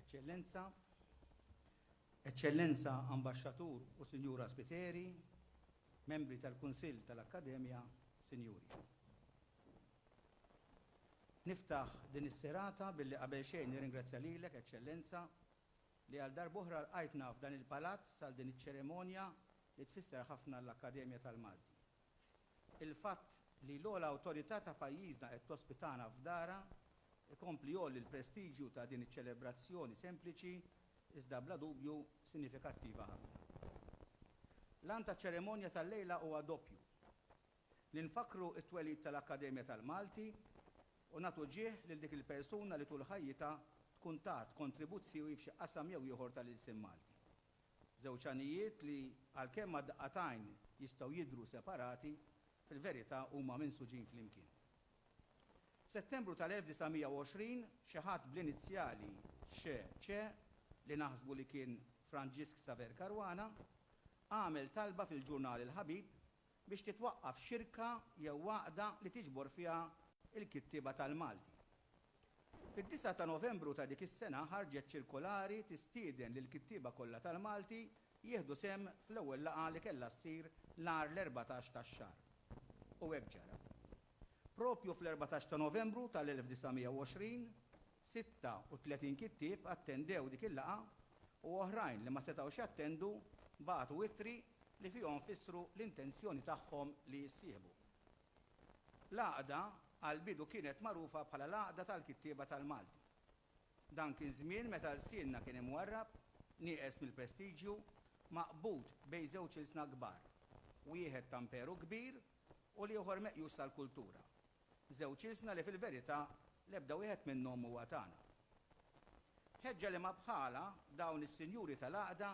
Eċċellenza, Eċċellenza Ambaxxatur u Sinjura Spiteri, membri tal-Kunsill tal-Akkademja, Sinjuri. Niftaħ din is-serata billi qabel xejn nirringrazzja lilek, Eċċellenza, li għal darb'oħra lqajtna f'dan il-palazz għal din iċ-ċerimonja li tfisser ħafna l-Akkademja tal-Malti. Il-fatt li l-ogħla awtorità ta' pajjiżna qed tospitana f'darha jkompli jgħolli l-prestiġju ta' din iċ-ċelebrazzjoni sempliċi iżda bla dubju sinifikattiva ħafna. L-għan taċ-ċeremonja tal-lejla huwa doppju, li nfakkru t-twelid tal-Akkademja tal-Malti u nagħtu ġieħ lil dik il-persuna li tul ħajjitha tkun tat kontribuzzjoi f'xi qasam jew ieħor tal-ilsien Malti. Żewġ għanijiet li, għalkemm għal daqqa t'għajn jistgħu jidhru separati, fil-verità huma minsuġin flimkien. F'Settembru tal-1920, xi ħadd bl-inizjali XC, li naħsbu li kien Franġisk Xaver Caruana, għamel talba fil-ġurnal Il-Ħabib biex titwaqqaf xirka jew għaqda li tiġbor fiha l-kittieba tal-Malti. Fid-disgħa ta' Novembru ta' dik is-sena ħarġet ċirkolari tistieden lill-kittieba kollha tal-Malti jieħdu sehem fl-ewwel laqgħa li kellha ssir nhar l-erbatax tax-xahar. U hekk ġara. Proprju fl-erbatax ta' Novembru tal-1920, 36 kittieb attendew dik il-laqgħa u oħrajn li ma setgħux jattendu bagħtu ittri li fihom fissru l-intenzjoni tagħhom li jissieħbu. L-għaqda għall-bidu kienet magħrufa bħala l-Għaqda tal-Kittieba tal-Malti. Dan kien żmien meta lsienna kien imwarrab, nieqes mill-prestiġju, maqbud bejn żewġ ilsna kbar, wieħed ta' Mperu kbir, u l-ieħor meqjus tal-kultura, żewġ ilsna li fil-verità l-ebda wieħed minnhom mhuwa tagħna. Ħeġġa liema bħalha dawn is-sinjuri tal-għaqda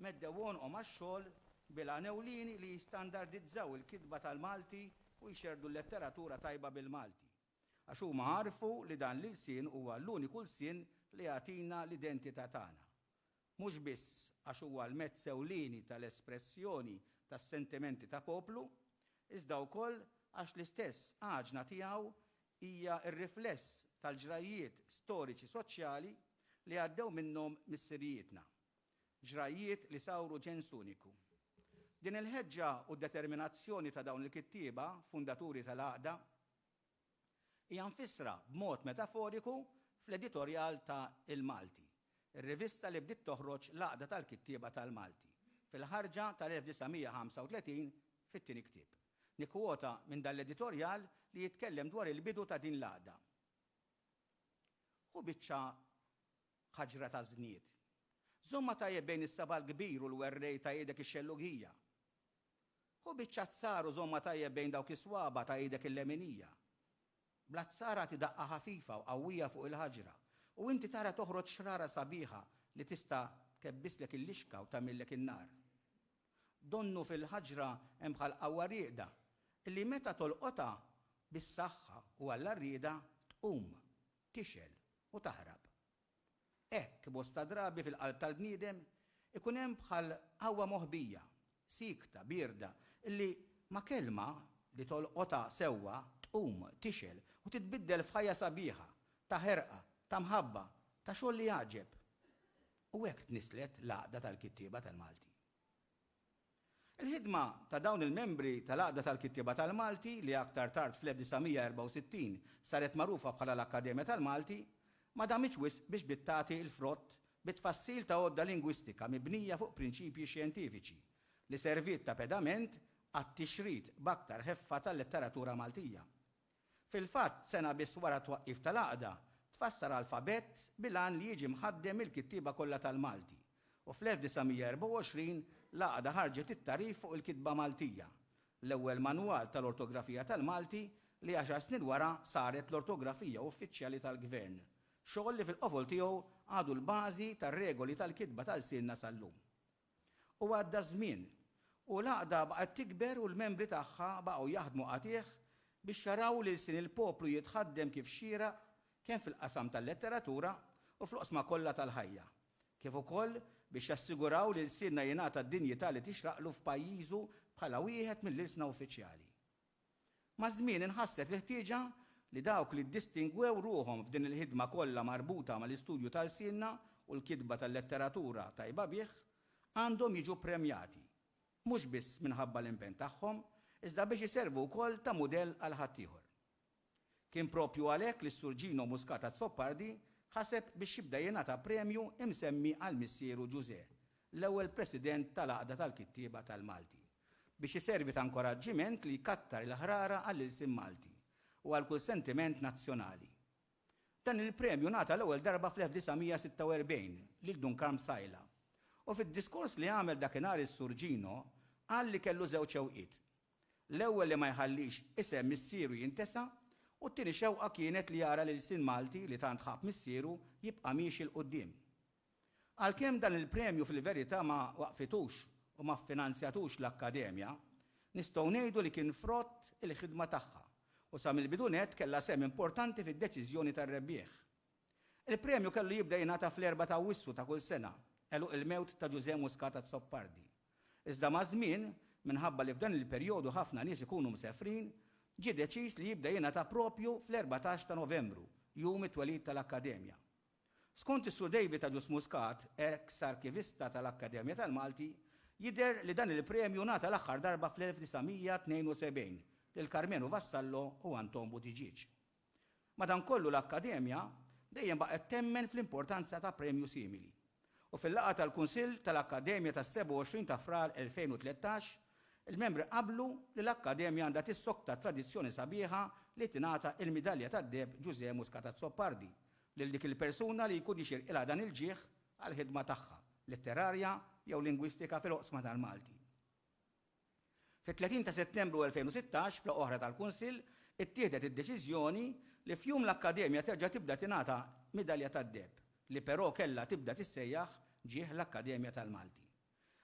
meddew għonqhom għax-xogħol bil-għan ewlieni li jistandardizzaw il-kitba tal-Malti u jxerrdu l-letteratura tajba bil-Malti, għax huma għarfu li dan l-ilsien huwa l-uniku lsien li jagħtina l-identità tagħna, mhux biss għax huwa l-mezz ewlieni tal-espressjoni tas-sentimenti ta' poplu, iżda wkoll għax l-istess għaġna tiegħu hija r-rifless tal-ġrajjiet storiċi soċjali li għaddew minnhom missirijietna, ġrajjiet li sawru ġens uniku. Din il-ħeġġa u d-determinazzjoni ta' dawn il-kittieba fundaturi tal-għaqda, Hija mfissra b'mod metaforiku fl-editorjal ta' Il-Malti, ir-rivista li bdiet toħroġ l-Għaqda tal-Kittieba tal-Malti, fil-ħarġa tal-1935 fit-tieni ktieb. Nikkwota minn dan l-editorjal li jitkellem dwar il-bidu ta' din l-għaqda. Hu biċċa ħaġra ta' żnied. Żommha tajjeb bejn is-saba' l-kbir u l-werrej ta' idek ix-xellugija. Ħu biċċa azzar u żommha tajjeb bejn dawk is-swaba' ta' idek il-leminija. Bl-azzar agħti daqqa ħafifa u qawwija fuq il-ħaġra u inti tara toħroġ xrara sabiħa li tista' tkebbistlek il-lixka u tagħmillek in-nar. Donnu fil-ħaġra hemm bħal qawwa rieqda li meta tolqotha bis-saħħa u għall-għarrieda tqum, tixgħel u taħrab. Hekk, bosta drabi fil-qalb tal-bniedem ikun hemm bħal qawwa moħbija, siekta, bierda, li ma' kelma li tolqotha sewwa tqum, tixgħel u titbiddel f'ħajja sabiħa, ta' ħerqa, ta' mħabba, ta' xogħol li jgħaġġeb. U hekk tnisslet l-għaqda tal-kittieba tal-Malti. Il-ħidma ta' dawn il-membri tal-Għaqda tal-Kittieba tal-Malti, li aktar tard fl-1964 saret magħrufa bħala l-Akkademja tal-Malti, ma damitx wisq biex bdiet tagħti l-frott bit-tfassil ta' għodda lingwistika mibnija fuq prinċipji xjentifiċi li serviet ta' pedament għat-tixrid b'aktar ħeffa tal-letteratura Maltija. Fil-fatt, sena biss wara t-twaqqif tal-Għaqda, tfassar alfabett bil-għan li jiġi mħaddem mill-kittieba kollha tal-Malti, u fl-1924 l-Għaqda ħarġet it-tagħrif fuq il-kitba Maltija, l-ewwel manwal tal-ortografija tal-Malti li għaxar snin wara saret l-ortografija uffiċjali tal-Gvern, xogħol li fil-qofol tiegħu għadu l-bażi tar-regoli tal-kitba ta' lsienna sal-lum. U għadda ż-żmien, u l-għaqda baqgħet tikber u l-membri tagħha baqgħu jaħdmu qatigħ biex jaraw li lsien il-poplu jitħaddem kif xieraq kemm fil-qasam tal-letteratura u fl-oqsma kollha tal-ħajja, kif ukoll biex jassiguraw li lsienna jingħata d-dinjità li tixraqlu f'pajjiżu bħala wieħed mill-ilsna uffiċjali. Maż-żmien inħasset l-ħtieġa li dawk li ddistingwew ruħhom f'din il-ħidma kollha marbuta mal-istudju ta' lsienna u l-kitba tal-letteratura tajba bih għandhom jiġu ppremjati, mhux biss minħabba l-impenn tagħhom, iżda biex iservu wkoll ta' mudell għal ħaddieħor. Kien proprju għalhekk li s-Sur Gino Muscat Azzopardi ħaseb biex jibda jingħata premju imsemmi għal missieru Ġużè, l-ewwel President tal-Għaqda tal-Kittieba tal-Malti, biex iservi ta' nkoraġġiment li jkattar il-ħrara għall-ilsien Malti u għal kull sentiment nazzjonali. Dan il-premju ngħata l-ewwel darba fl-1946 lil Dun Karm Psaila, u fid-diskors li għamel dakinhar is-Sur Gino qal li kellu żewġ xewqiet, L-ewwel li ma jħallix isem missieru jintesa' u t-tieni xewqa kienet li jara l-ilsien Malti li tant ħabb missieru jibqa' miexi 'l quddiem. Għalkemm dan il-premju fil-verità ma waqqfitux u ma ffinanzjatux l-Akkademja, nistgħu ngħidu li kien frott il-ħidma tagħha u sa mill-bidu nett kellha sehem importanti fid-deċiżjoni tar-rebbieħ. Il-premju kellu jibda jingħata fl-Erbgħa t'Awwissu ta' kull sena, għeluq il-mewt ta' Ġużè Muscat Azzopardi. Iżda maż-żmien, minħabba li f'dan il-perjodu ħafna nies ikunu msefrin, ġie deċiż li jibda jingħata proprju fl-erbatax ta' Novembru, jum it-twelid tal-Akkademja. Skont is-Sur David Agius Muscat, eks Arkivista tal-Akkademja tal-Malti, jidher li dan il-premju ngħata l-aħħar darba fl-1972 lil Karmenu Vassallo u Anton Buttigieg. Madankollu l-Akkademja dejjem baqgħet temmen fl-importanza ta' premju simili, u fil-laqgħa tal-Kunsill tal-Akkademja tas-27 ta' Frar 2013, il-membri qablu li l-Akkademja għandha tissokta t-tradizzjoni sabiħa li tingħata il-Midalja tad-Deheb Ġużè Muscat Azzopardi lil dik il-persuna li jkun jixirqilha dan il-ġieħ għall-ħidma tagħha letterarja jew lingwistika fil-oqsma tal-Malti. Fit-30 ta' Settembru 2016, f'laqgħa oħra tal-Kunsill, ittieħdet id-deċiżjoni li f'jum l-Akkademja terġa' tibda tingħata Midalja tad-Deheb, li però kellha tibda tissejjaħ ġieħ l-Akkademja tal-Malti.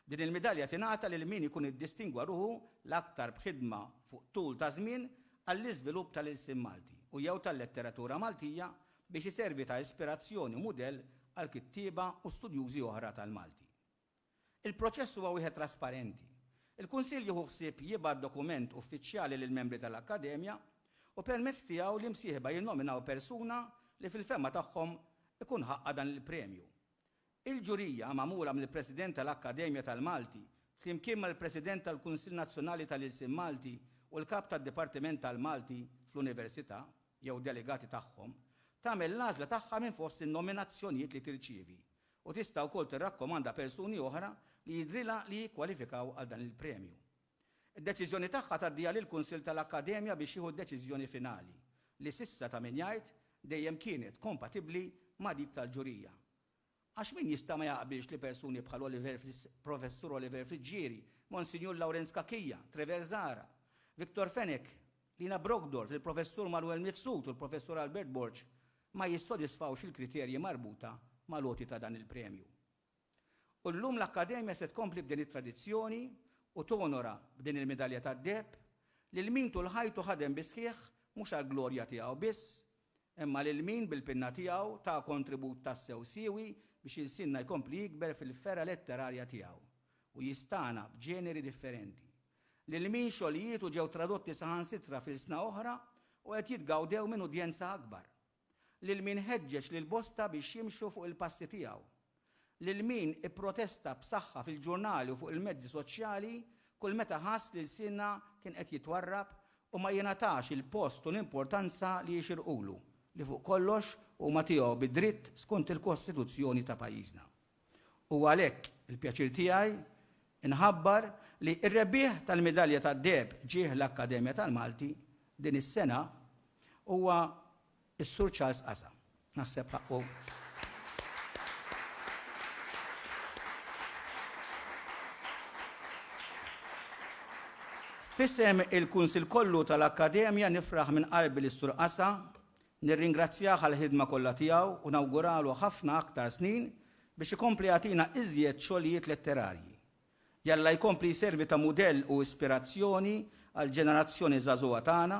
Din il-midalja tingħata lil min ikun iddistingwa ruħu l-aktar b'ħidma fuq tul ta' żmien għall-iżvilupp tal-ilsien Malti u jew tal-letteratura Maltija biex iservi ta' ispirazzjoni u mudell għal kittieba u studjużi oħra tal-Malti. Il-proċess huwa wieħed trasparenti. Il-Kunsill jieħu ħsieb jibgħat dokument uffiċjali lill-membri tal-Akkademja u permezz tiegħu l-imsieħba jinnominaw persuna li fil-fehma tagħhom ikun ħaqqha dan il-premju. Il-ġurija, magħmula mill-President tal-Akkademja tal-Malti flimkien mal-President tal-Kunsill Nazzjonali tal-Ilsien Malti u l-Kap tad-Dipartiment tal-Malti fl-Università jew delegati tagħhom, tagħmel l-għażla tagħha minn fost in-nominazzjonijiet li tirċievi u tista' wkoll tirrakkomanda persuni oħra li jidhrilha li jikkwalifikaw għal dan il-premju. Id-deċiżjoni tagħha tgħaddiha lill-Kunsill tal-Akkademja biex jieħu d-deċiżjoni finali, li s'issa ta' min jgħid dejjem kienet kompatibbli ma' dik tal-ġurija. Għax min jista' ma jaqbilx li persuni bħal Oliver Professur Oliver Friggieri, Monsinjur Lawrenz Cachia, Trever Zahra, Victor Fenech, Lina Brockdorff, il-Professur Manuel Mifsud u l-Professur Albert Borg ma jissodisfawx il-kriterji marbuta mal-għoti ta' dan il-premju. U llum l-Akkademja se tkompli b'din it-tradizzjoni u tonora b'din il-midalja tad-deheb lil min tul ħajtu ħadem bis-sħiħ mhux għall-glorja tiegħu biss, imma lil min bil-pinna tiegħu ta kontribut tassew siewi biex ilsienna jkompli jikber fil-fergħa letterarja tiegħu u jistagħna b'ġeneri differenti. lil min xogħlijietu ġew tradotti saħansitra f'ilsna oħra u qed jitgawdew minn udjenza akbar, lil min ħeġġeġ lil bosta biex jimxu fuq il-passi tiegħu, lil min ipprotesta b'saħħa fil-ġurnali u fuq il-mezzi soċjali kull meta ħass li lsienna kien qed jitwarrab u ma jingħatax il-post u l-importanza li jixirqulu, li fuq kollox huma tiegħu bi dritt skont il-Kostituzzjoni ta' pajjiżna. Huwa għalhekk il-pjaċir tiegħi nħabbar li r-rebbieħ tal-midalja tad-deheb ġieħ l-Akkademja tal-Malti din is-sena huwa s-Sur Charles Casa. Naħseb ħaqqu F'isem il-Kunsill kollu tal-Akkademja nifraħ minn qalbi lis-Sur Casa Nirringrazzjah għall-ħidma kollha tiegħu u nawguralu ħafna aktar snin biex ikompli jagħtina iżjed xogħlijiet letterarji. Jalla jkompli jservi ta' mudell u ispirazzjoni għall-ġenerazzjoni żagħżugħa tagħna,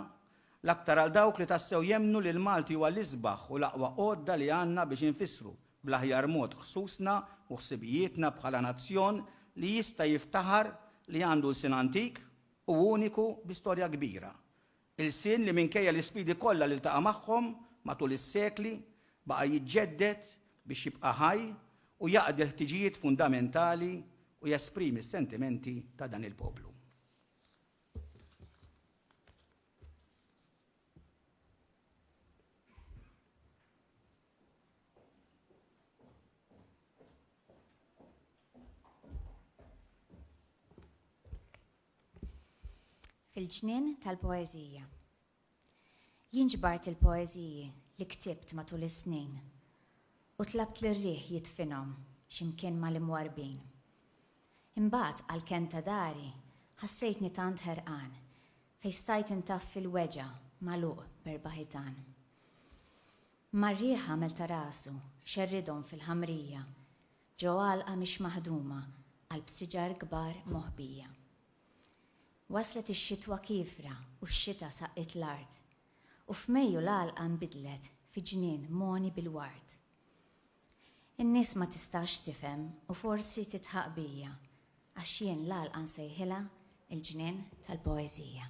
l-aktar għal dawk li tassew jemmnu li l-Malti huwa l-isbaħ u l-aqwa għodda li għandna biex infissru bl-aħjar mod ħsusna u ħsibijietna bħala nazzjon li jista' jiftaħar li għandu lsien antik u uniku bi storja kbira Ilsien li minkejja l-isfidi kollha li ltaqa' magħhom matul is-sekli, baqa' jiġġedded biex jibqa' ħaj u jaqdi l-ħtiġijiet fundamentali u jesprimi s-sentimenti ta' dan il-poplu. Fil-ġnien tal-poeżija. Jien ġbart il-poeżiji li ktibt matul is-snin u tlabt lir-riħ jidfinhom xi mkien mal-imwarrbin. Imbagħad għall-kenn ta' dari ħassejtni tant ħerqan fejn stajt intaffi l-weġgħa magħluq b'erba' ħitan. Imma r-riħ għamel ta' rasu xerridhom fil-ħamrija Ġo għalqa mhix maħduma għal b'siġar kbar moħbija. Waslet ix-xitwa kiefra u x-xita saqqiet l-art, u f'Mejju l-għalqa nbidlet fi ġnien mogħni bil-ward. In-nies ma tistax tifhem u forsi tidħaq bija, għax jien l-għalqa nsejħilha l-ġnien tal-poeżija.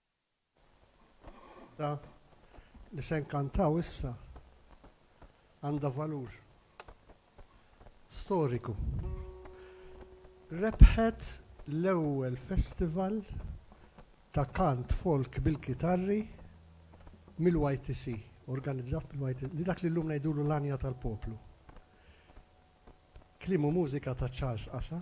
Waħda li se nkantaw issa għandha valur storiku. Rebħet l-ewwel festival ta' kant folk bil-kitarri mill-YTC, organizzat mill-YTC, li dak li llum ngħidulu l-għanja tal-poplu. Kliem u mużika ta' Charles Qasa.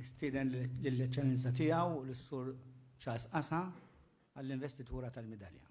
Nistieden lill-Eċċellenza Tiegħu lis-Sur Charles Casa għall-investitura tal-midalja.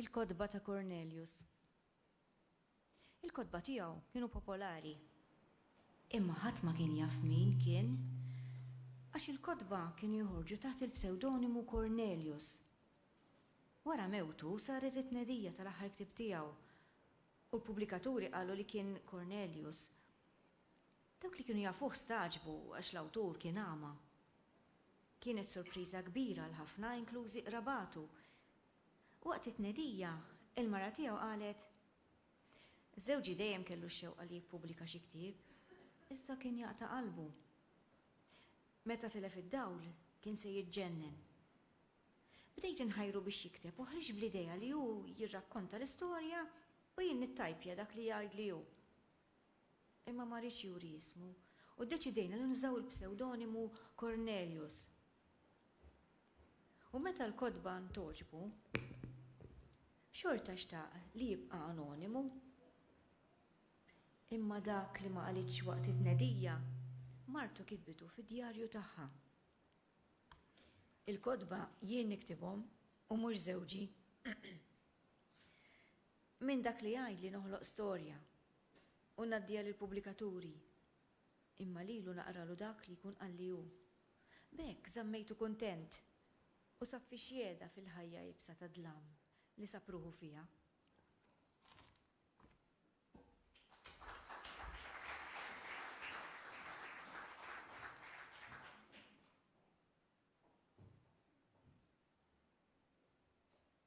Il-kotba ta' Kornelius. Il-kotba tiegħu kienu popolari. Imma ħadd ma kien jaf min kien, għax il-kotba kienu joħorġu taħt il-psewdonimu Cornelius. Wara mewtu saret it-tnedija tal-aħħar ktieb tiegħu u l-pubblikaturi qalu li kien Cornelius. Dawk li kienu jafuh stagħġbu għax l-awtur kien agħma. Kienet sorpriża kbira għal ħafna inklużi qrabatu Waqt it-tnedija, il-mara tiegħu qalet, Żewġi dejjem kellu x-xewqa li jippubblika xi ktieb, iżda kien jaqta' qalbu. Meta tilef id-dawl, kien se jiġġennen. Bdejt inħajru biex jikteb u ħriġ bl-idea li hu jirrakkonta l-istorja u jien nittajpja dak li jgħidli hu. Imma ma riedx juri ismu, u ddeċidejna li nużaw il-psewdonimu Cornelius. U meta l-kotba ntogħġbu, xorta xtaq li jibqa' anonimu. Imma dak li ma qalitx waqt it-tnedija, martu kitbitu fid-djarju tagħha. Il-kotba jien niktibhom u mhux żewġi. Min dak li jgħid li noħloq storja u ngħaddiha lill-pubblikaturi, imma lilu naqralu dak li jkun qalli hu. B'hekk żammejtu kuntent u sab fi xjeda fil-ħajja iebsa tad-dlam li sab ruħu fiha.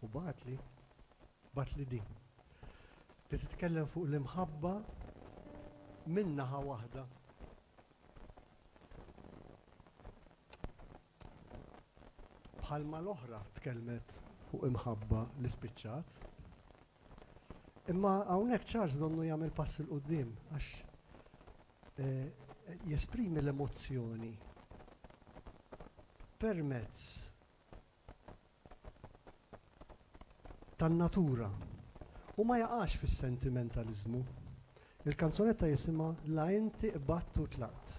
U bagħatli, bagħatli din, li titkellem fuq l-imħabba minn naħa waħda. Bħalma l-oħra tkellmet fuq imħabba li spiċċat. Imma hawnhekk Charles donnu jagħmel pass 'il quddiem għax jesprimi l-emozzjoni permezz tan-natura u ma jaqax fis-sentimentaliżmu. Il-kanzunetta jisimha La inti qbadt u tlaqt.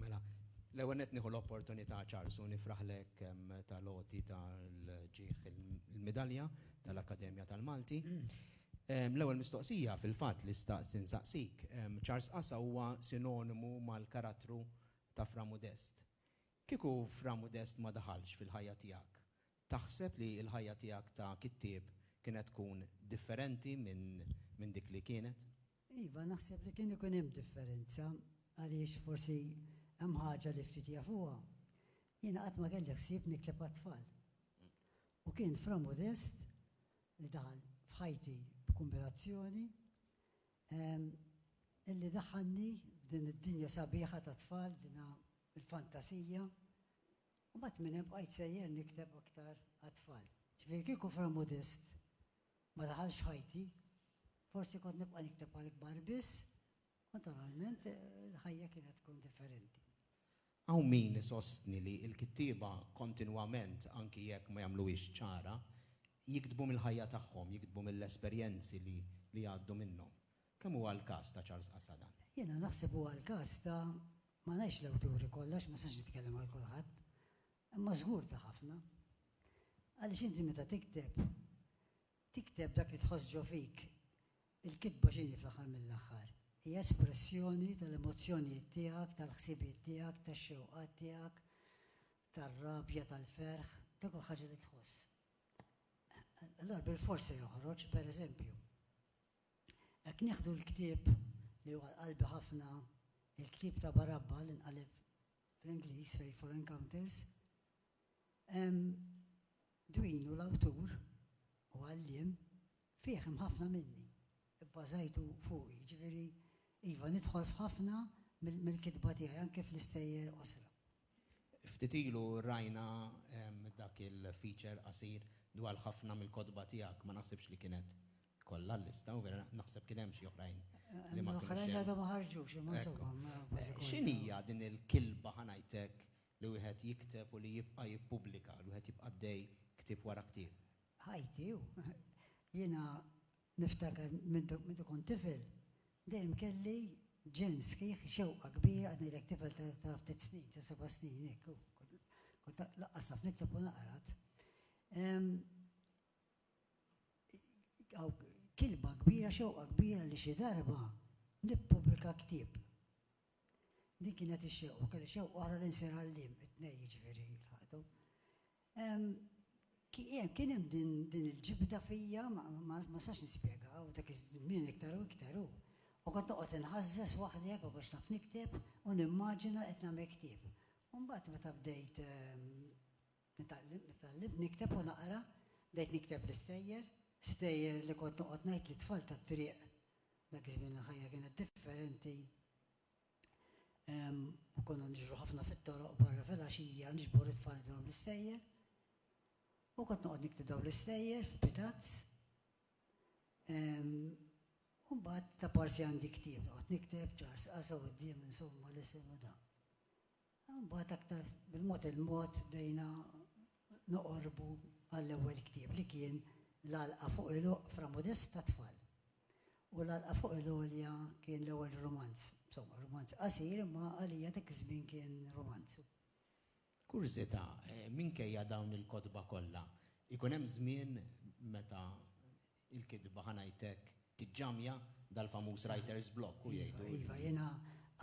Mela, l-ewwel qed nieħu l-opportunità Charles u nifraħlek tal-għoti tal-ġieħ il-midalja tal-Akkademja tal-Malti. L-ewwel mistoqsija fil-fatt li xtaqt insaqsik, Charles Qasa huwa sinonimu mal-karattru ta' Fra Mudest. Kieku Fra Mudest ma daħalx fil-ħajja tiegħek, taħseb li l-ħajja tiegħek ta' kittieb kienet tkun differenti minn dik li kienet? Iva, naħseb li kien ikun hemm differenza għaliex forsi hemm ħaġa li ftit jafuha, jiena qatt ma kelli ħsieb nikteb għat-tfal. U kien Fra Mudest li daħal f'ħajti b'kumbinazzjoni illi daħħalni f'din id-dinja sabiħa tat-tfal, f'din il-fantasija, u mbagħad minn hemm bqajt sejjer nikteb aktar għat-tfal. Ġifieri kieku Fra Modest ma daħalx f'ħajti, forsi kont nibqa' nikteb għall-kbar biss, Naturalment, il-ħajja kienet tkun differenti. Hawn min isostni li l-kittieba kontinwament, anki jekk ma jagħmluhiex ċara, jiktbu mill-ħajja tagħhom, jiktbu mill-esperjenzi li jgħaddu minnhom. Kemm huwa l-każ ta' Charles Qasada? Jiena naħseb huwa l-każ ta', ma ngħidx l-awturi kollha għax ma nistax nitkellem għal kulħadd, imma żgur ta' ħafna. Għaliex inti meta tikteb, tikteb dak li tħoss ġo fik, Il-kitba x'inhi fl-aħħar mill-aħħar? Hi espressjoni tal-emozzjonijiet tiegħek, tal-ħsibijiet tiegħek, tax-xewqat tiegħek, tar-rabja, tal-ferħ, ta' kull ħaġa li tħoss. Allura bilfors se joħroġ, pereżempju, jekk nieħdu l-ktieb li huwa qalbi ħafna, il-ktieb ta' Barabba li nqaleb fl-Ingliż Faithful Encounters, Dwinu l-awtur u għalliem Fih hemm ħafna minni, ibbażajtu fuqi, jiġifieri, iva, nidħol f'ħafna mill-kitba tiegħi, anke fl-istejjer qosra. Ftit ilu rajna dak il-feature qasir dwar ħafna mill-kotba tiegħek, ma naħsibx li kienet kollha l-lista, u vera naħseb kien hemm xi oħrajn li ma kinux hemm. L-oħrajn għadhom ma ħarġux, imma insomma kważi kollha. X'inhija din il-kilba, ħa ngħid hekk, li wieħed jikteb u li jibqa' jippubblika, li wieħed jibqa' għaddej ktieb wara ktieb? ħajti u jiena niftakar meta kont tifel dejjem kelli ġenn sħiħ, xewqa kbira, qed ngħidlek tifel ta' ftit snin, ta' seba' snin hekk, kont lanqas naf nikteb u naqra. Kilba kbira, xewqa kbira li xi darba nippubblika ktieb. Din kienet ix-xewq u kelli xewq oħra li nsir għalliem, it-tnejn jiġifieri jilħaqtu. Kien hemm din il-ġibda fija ma nistax nispjegha u dak iż-żmien iktar u iktar u u kont noqgħod inħażżeż waħdi hekk ma kontx naf nikteb u nimmaġina qed nagħmel ktieb. U mbagħad meta bdejt Tgħallimt nikteb u naqra, bdejt nikteb l-istejjer, stejjer li kont noqgħod ngħid lit-tfal tat-triq. Dak iż-żmien il-ħajja kienet differenti u konna niġru ħafna fit-toroq barra filgħaxija niġbor it-tfal nidilhom l-istejjer. U kont noqgħod nikteb dawn l-istejjer f'pitazz. U mbagħad taparsi għandi ktieb, noqgħod nikteb, ġars qasgħa quddiem insomma l-isem u dan. Mbagħad aktar bil-mod il-mod bdejna noqorbu għall-ewwel ktieb li kien L-Għalqa fuq il-Oqfra Modesta tat-Tfal. U L-Għalqa fuq il-Għolja kien l-ewwel rumanz. Insomma, rumanz qasir imma għalija dak iż-żmien kien rumanz. Kurżità, minkejja dawn il-kotba kollha, ikun hemm żmien meta Il-kitba, ħa ngħidlek, tiġġamja, dal-famuż writer's block, u jgħidu. Iva, iva, jiena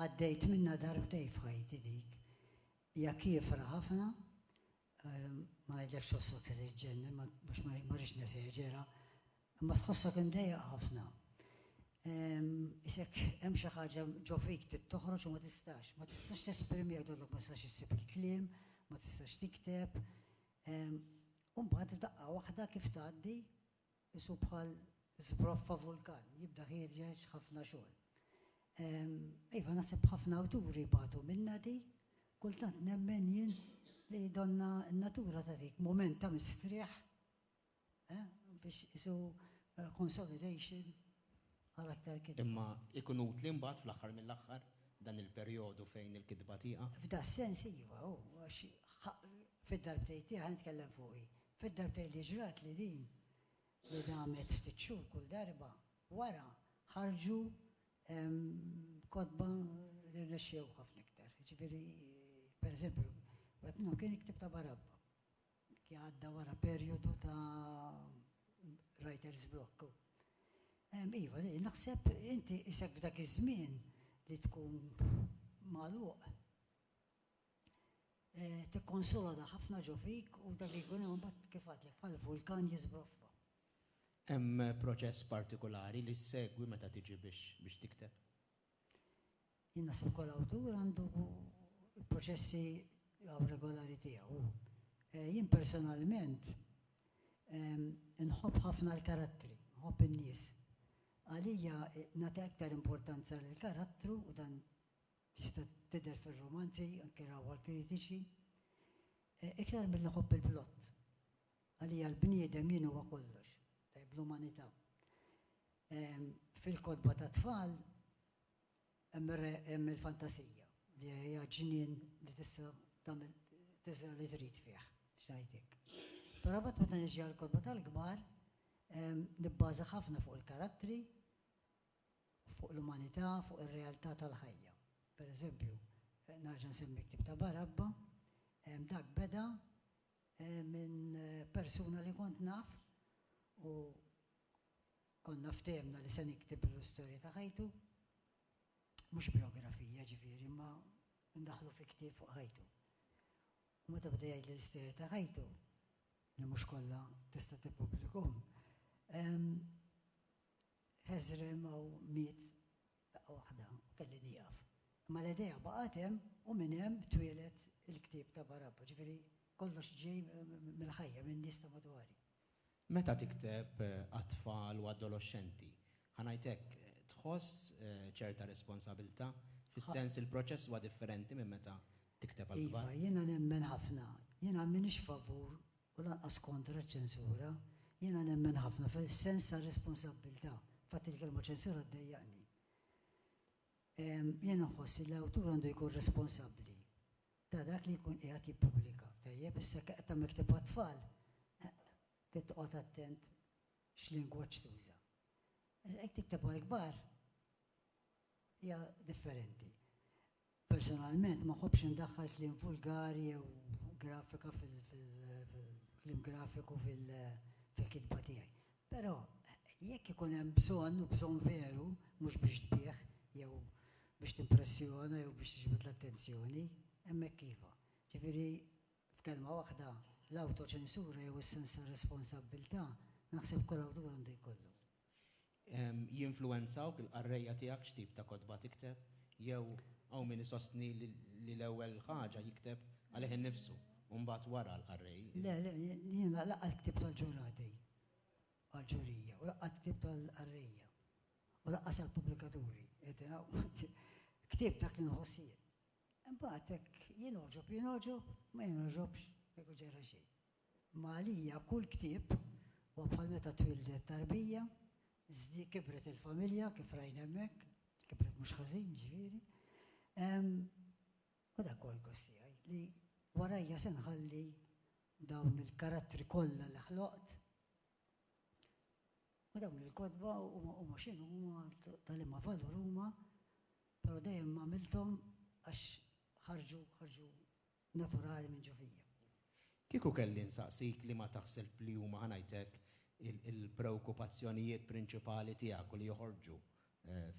għaddejt minnha darbtejn f'ħajti dik. Hija kiefra ħafna, ma ngħidlekx tħossok se tiġġennen, ma mhux ma rridx neseġera, imma tħossok imdejjaq ħafna. Isek hemm xi ħaġa ġo fik trid toħroġ u ma tistax, ma tistax tesprimiha jgħidulok ma tistax issib il-kliem, ma tistax tikteb, U mbagħad f'daqqa waħda kif tgħaddi, qisu bħal żbroffa vulkan, jibda ħierġeġ ħafna xogħol. Iva, naħseb ħafna awturi bagħtu minnha di. Kultant nemmen jien li donna n-natura tagħtik mument ta' mistrieħ biex qisu consolidation għal aktar kitba. Imma jkun utli mbagħad fl-aħħar mill-aħħar dan il-perjodu fejn il-kitba tieqaf? F'das-sens iva, hu għax fid-darbtejn tiegħi, nitkellem fuqi, fid-darbtejn li ġratli din, li damet ftit xhur kull darba, wara ħarġu kotba li rnexxew ħafna iktar. Jiġifieri, pereżempju, wieħed minnhom kien il-ktieb ta' Barabba. li għadda wara perjodu ta' writer's block. Iva, naħseb inti qisek f'dak iż-żmien li tkun magħluq tikkonsolada ħafna ġo fik u dak li jkun hemm imbagħad kif għadtlek bħal vulkan jiżbroffa. Hemm proċess partikulari li ssegwi meta tiġi biex tikteb? Jien naħseb kull awtur għandu l-proċessi awregolari tiegħu. Jien personalment inħobb ħafna l-karattri, inħobb in-nies. Għalija nagħti aktar importanza lill-karattru u dan jista' tidher fir-rumanzi, anke rawha l-kritiċi, iktar milli nħobb il-plott. Għalija l-bniedem jien huwa kollox, tajjeb l-umanità. Fil-kotba tat-tfal hemm il-fantasija li hija ġnien li tista' tagħmel tiżra' li trid fih, x'ngħidlek. Però mbagħad meta niġi għall-kotba tal-kbar nibbaża ħafna fuq il-karattri, fuq l-umanità, fuq ir-realtà tal-ħajja. Per eżempju, nerġa' nsemmi l-ktieb ta' Barabba, dak beda minn persuna li kont naf u Konna ftehemna li se niktiblu l-istorja ta' ħajtu, mhux bijografija, ġifieri, imma ndaħħlu fi ktieb fuq ħajtu. U meta beda jgħidli l-istorja ta' ħajtu, li mhux kollha tista' tippubblikhom, ħeżrem hawn miet f'daqqa waħda u kelli nieqaf. Imma l-idea baqgħet hemm u minn hemm twieled il-ktieb ta' Barabba, ġifieri kollox ġej mill-ħajja, min-nies ta' madwari. Meta tikteb għat-tfal u adoloxxenti, ħa ngħid hekk, tħoss ċerta responsabilità? Fis-sens li l-proċess huwa differenti minn meta tikteb għall-kbar? Iva, jiena nemmen ħafna. Jiena m'iniex favur u lanqas kontra ċ-ċensura. Jiena nemmen ħafna fis-sens tar-responsabbiltà. Fatt il-kelma ċensura ddejjaqni. Jiena nħoss li l-awtur għandu jkun responsabbli ta' dak li jkun qiegħed jippubblika. Tajjeb, issa jekk qed tagħmel ktieb għat-tfal, trid toqgħod attent x'lingwaġġ tuża. Iżda jekk tikteb għall-kbar hija differenti. Personalment ma ħobbx indaħħal kliem vulgari jew grafika fil-kliem grafiku fil-kitba tiegħi. Però, jekk ikun hemm bżonn, u bżonn veru, mhux biex tbigħ, jew biex timpressjona jew biex tiġbed l-attenzjoni, hemmhekk iva. Ġifieri, f'kelma waħda, l-awtoċensura jew is-sens ta' responsabbiltà naħseb kull awtur għandu jkollu. Jinfluwenzawk il-qarrejja tiegħek x'tip ta' kotba tikteb, jew hawn min isostni li l-ewwel ħaġa jikteb għalih innifsu? U mbagħad wara l-qarrej. Le, le, jien laqgħat ktieb tal-ġurati għall-ġurija u laqgħat ktieb tal-qarrejja u lanqas għall-pubblikaturi. Ktieb dak li nħoss jien. Imbagħad hekk jien għoġob, jien għoġob, ma jien għoġobx, ma jkun ġara xejn. Imma għalija kull ktieb huwa bħal meta twildet tarbija, żdi kibret il-familja kif rajna hemmhekk, kibret mhux ħażin ġifieri, U dak hu l-gost tiegħi, li warajja se nħalli dawn il-karattri kollha li ħloqt. U dawn il-kotba huma x'inhuma, ta' liema valur huma, però dejjem għamilthom għax ħarġu, ħarġu naturali minn ġo fija. Kieku kelli nsaqsik liema taħseb li huma, ħa ngħid hekk, il-preokkupazzjonijiet prinċipali tiegħek u li joħorġu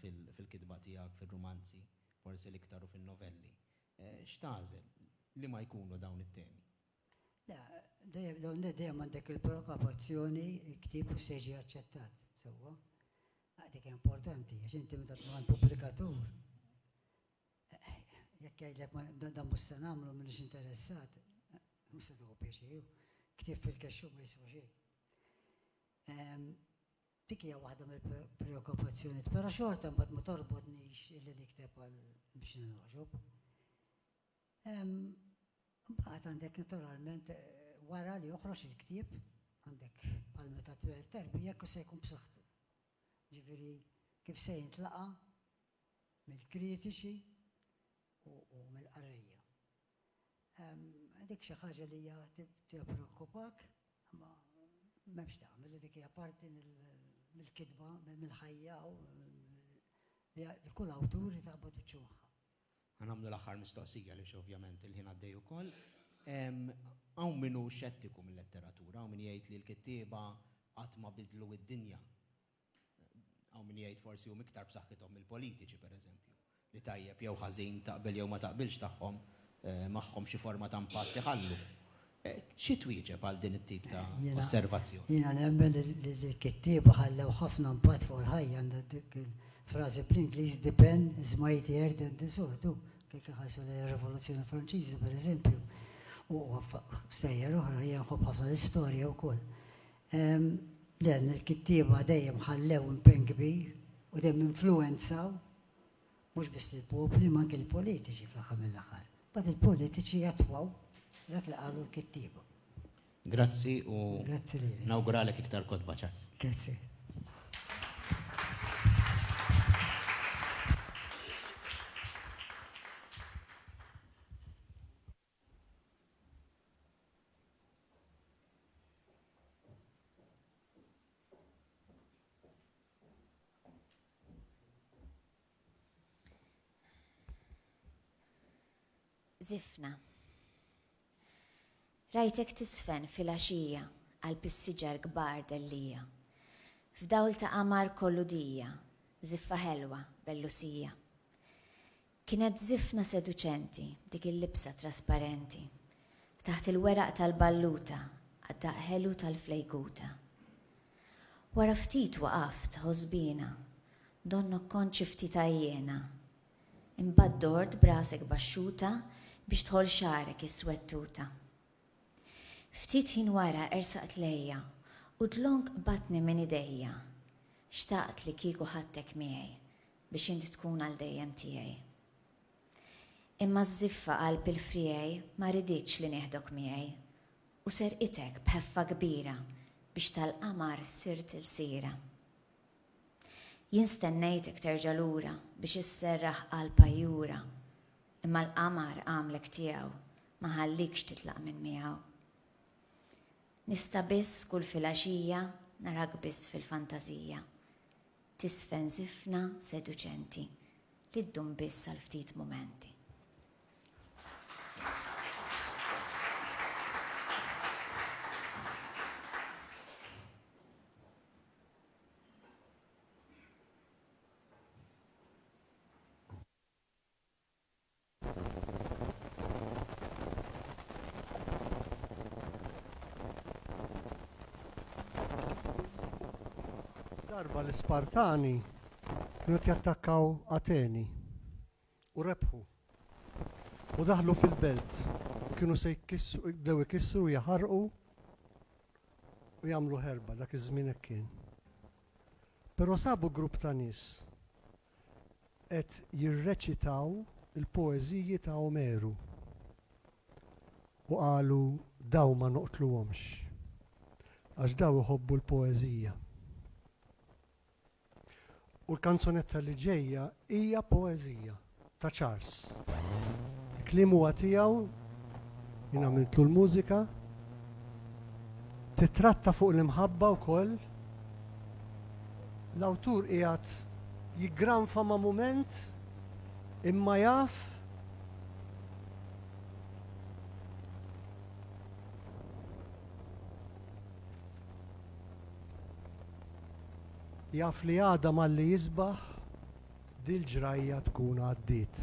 fil-kitba tiegħek, fir-rumanzi, forsi l-iktar u fin-novelli. X'tagħżel? Liema jkunu dawn it-temi? Le, l-ewwel nett dejjem għandek il-provokazzjoni, il-ktieb u se jiġi aċċettat sewwa. Dik importanti, għax inti meta tkun għand pubblikatur, jekk jgħidlek dan mhux se nagħmlu m'iniex interessat, mhux se tieħu pjaċir, ktieb fil-kexxu ma jiswa xejn. Dik hija waħda mill-preokkupazzjonijiet, però xorta mbagħad ma torbotnix illi nikteb għal biex nirroġob. Mbagħad għandek naturalment wara li joħroġ il-ktieb għandek bħal meta twel terbi jekk se jkun b'saħħtu. Ġifieri kif se jintlaqa' mill-kritiċi u mill-qarrejja. Dik xi ħaġa li hija tippreokkupak, imma m'hemmx tagħmel, dik hija parti mill-kitba, mill-ħajja u li kull awtur irid iqabbad wiċċu magħha. Ħa nagħmlu l-aħħar mistoqsija għaliex ovvjament il-ħin għaddej ukoll. Hawn min hu xettiku mil-letteratura, hawn min jgħid li l-kittieba qatt ma bidlu d-dinja. Hawn min jgħid forsi huma iktar b'saħħithom mill-politiċi, pereżempju, li tajjeb jew ħażin, taqbel jew ma taqbilx tagħhom magħhom xi forma ta' impatt iħallu. Xi twieġeb għal din it-tip ta' osservazzjoni? Jiena nemmen li l-kittieba ħallew ħafna impatt fuq il-ħajja. Għandna dik il-frażi bl-Ingliż the pen is mightier than the sword. U jekk iħarsu lejn ir-Rivoluzzjoni Franċiża, pereżempju, u stejjer oħra, jiena nħobb ħafna l-istorja wkoll. Le, l-kittieba dejjem ħallew impenn kbir u dejjem influwenzaw mhux biss lill-popli ma anke lill-politiċi fl-aħħar mill-aħħar. Imbagħad il-politiċi jattwaw dak li qalu l-kittieba. Grazzi u nawguralek iktar kotba ċans. Grazzi. Zifna. Rajtek tisfen fil-għaxija għal pissiġar kbar dellija. F'dawl ta' qamar kollu dija, ziffa ħelwa bellusija. Kienet żifna seduċenti dik il-libsa trasparenti, taħt il-weraq tal-balluta għad-daqq ħelu tal-flejkuta. Wara ftit waqaft ħosbiena, donnok kont xi ftit għajjiena. Imbagħad dort b'rasek baxxuta biex tħoll xagħrek iswed tuta. Ftit ħin wara ersaqt lejja u dlonk qbadtni minn idejja. Xtaqt li kieku ħadtek miegħi biex int tkun għal dejjem tiegħi. Imma ż-żiffa qalb il-friegħi ma riditx li nieħdok miegħi, u serqitek b'ħeffa kbira biex tal-qamar sirt ilsira. Jien stennejtek terġa' lura biex isserraħ qalb għajjura, imma l-qamar għamlek tiegħu ma ħallikx titlaq minn miegħu. Nista' biss kull filgħaxija narak biss fil-fantażija. Tiżfen żifna seduċenti li ddum biss għal ftit mumenti. Darba l-Ispartani kienu qed jattakkaw Ateni u rebħu. U daħlu fil-belt u kienu se jkissru, bdew ikissru, jaħarqu u jagħmlu ħerba dak iż-żmien hekk kien. Però sabu grupp ta' nies qed jirreċitaw il-poeżiji ta' Omeru u qalu dawn ma noqtluhomx għax dawn iħobbu l-poeżija. U l-kanzunetta li ġejja hija poeżija ta' Charles. Il-kliem huwa tiegħu, jien għamiltlu l-mużika. Tittratta fuq l-imħabba wkoll. L-awtur qiegħed jiggranfa ma' mument imma jaf jaf li għada malli jisbaħ dil-ġrajja tkun għaddiet.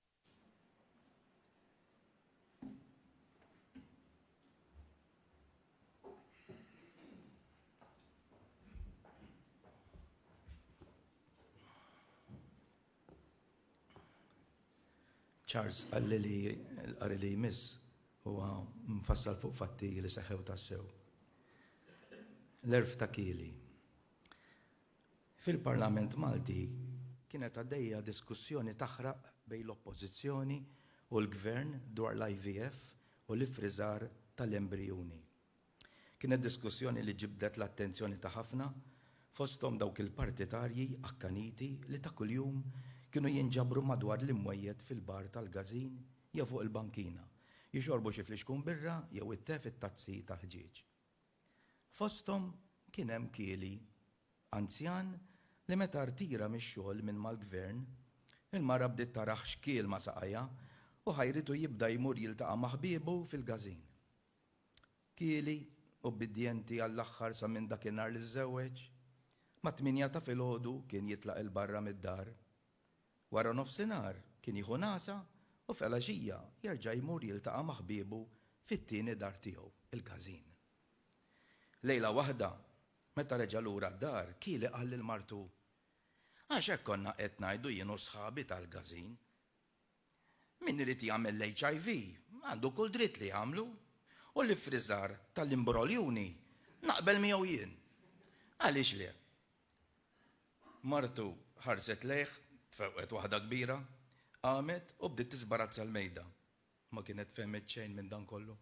Charles għalli li l-qari li jmiss huwa mfassal fuq fatti li seħew tassew. L-erf ta' kili. Fil-Parlament Malti kienet għaddejja diskussjoni taħraq bejn l-Oppożizzjoni u l-Gvern dwar l-IVF u l-iffriżar tal-embrijuni. Kienet diskussjoni li ġibdet l-attenzjoni ta' ħafna, fosthom dawk il-partitarji akkaniti li ta' kuljum kienu jinġabru madwar l-imwejjed fil-bar tal-każin jew fuq il-bankina, jixorbu xi flixkun birra jew it-te fit-tazzi tal-ħġieġ. Fosthom kien hemm kieli, anzjan li meta rtira mix-xogħol minn mal-Gvern, il-mara bdiet tarah xkiel ma' saqajha u ħajritu jibda jmur jiltaqa' ma' ħbiebu fil-każin. Kieli, ubbidjenti għall-aħħar sa minn dakinhar li żżewweġ, mat-tmienja ta' filgħodu kien jitlaq 'il barra mid-dar Wara nofsinhar kien jieħu nagħsa u f'elgħaxija jerġa' jmur jiltaqa' ma' ħbiebu fit-tieni dar tiegħu, il-każin. Lejla waħda, meta reġa' lura d-dar, Kili qal lil martu, Għax hekk konna qed ngħidu jien u sħabi tal-każin. Min irid jagħmel l-HIV għandu kull dritt li jagħmlu u l-iffriżar tal-imbroljuni naqbel miegħu jien. Għaliex le? Martu ħarset lejh, tfewqet waħda kbira, qamet u bdiet tiżbarazza l-mejda. Ma kienet fehmet xejn minn dan kollu.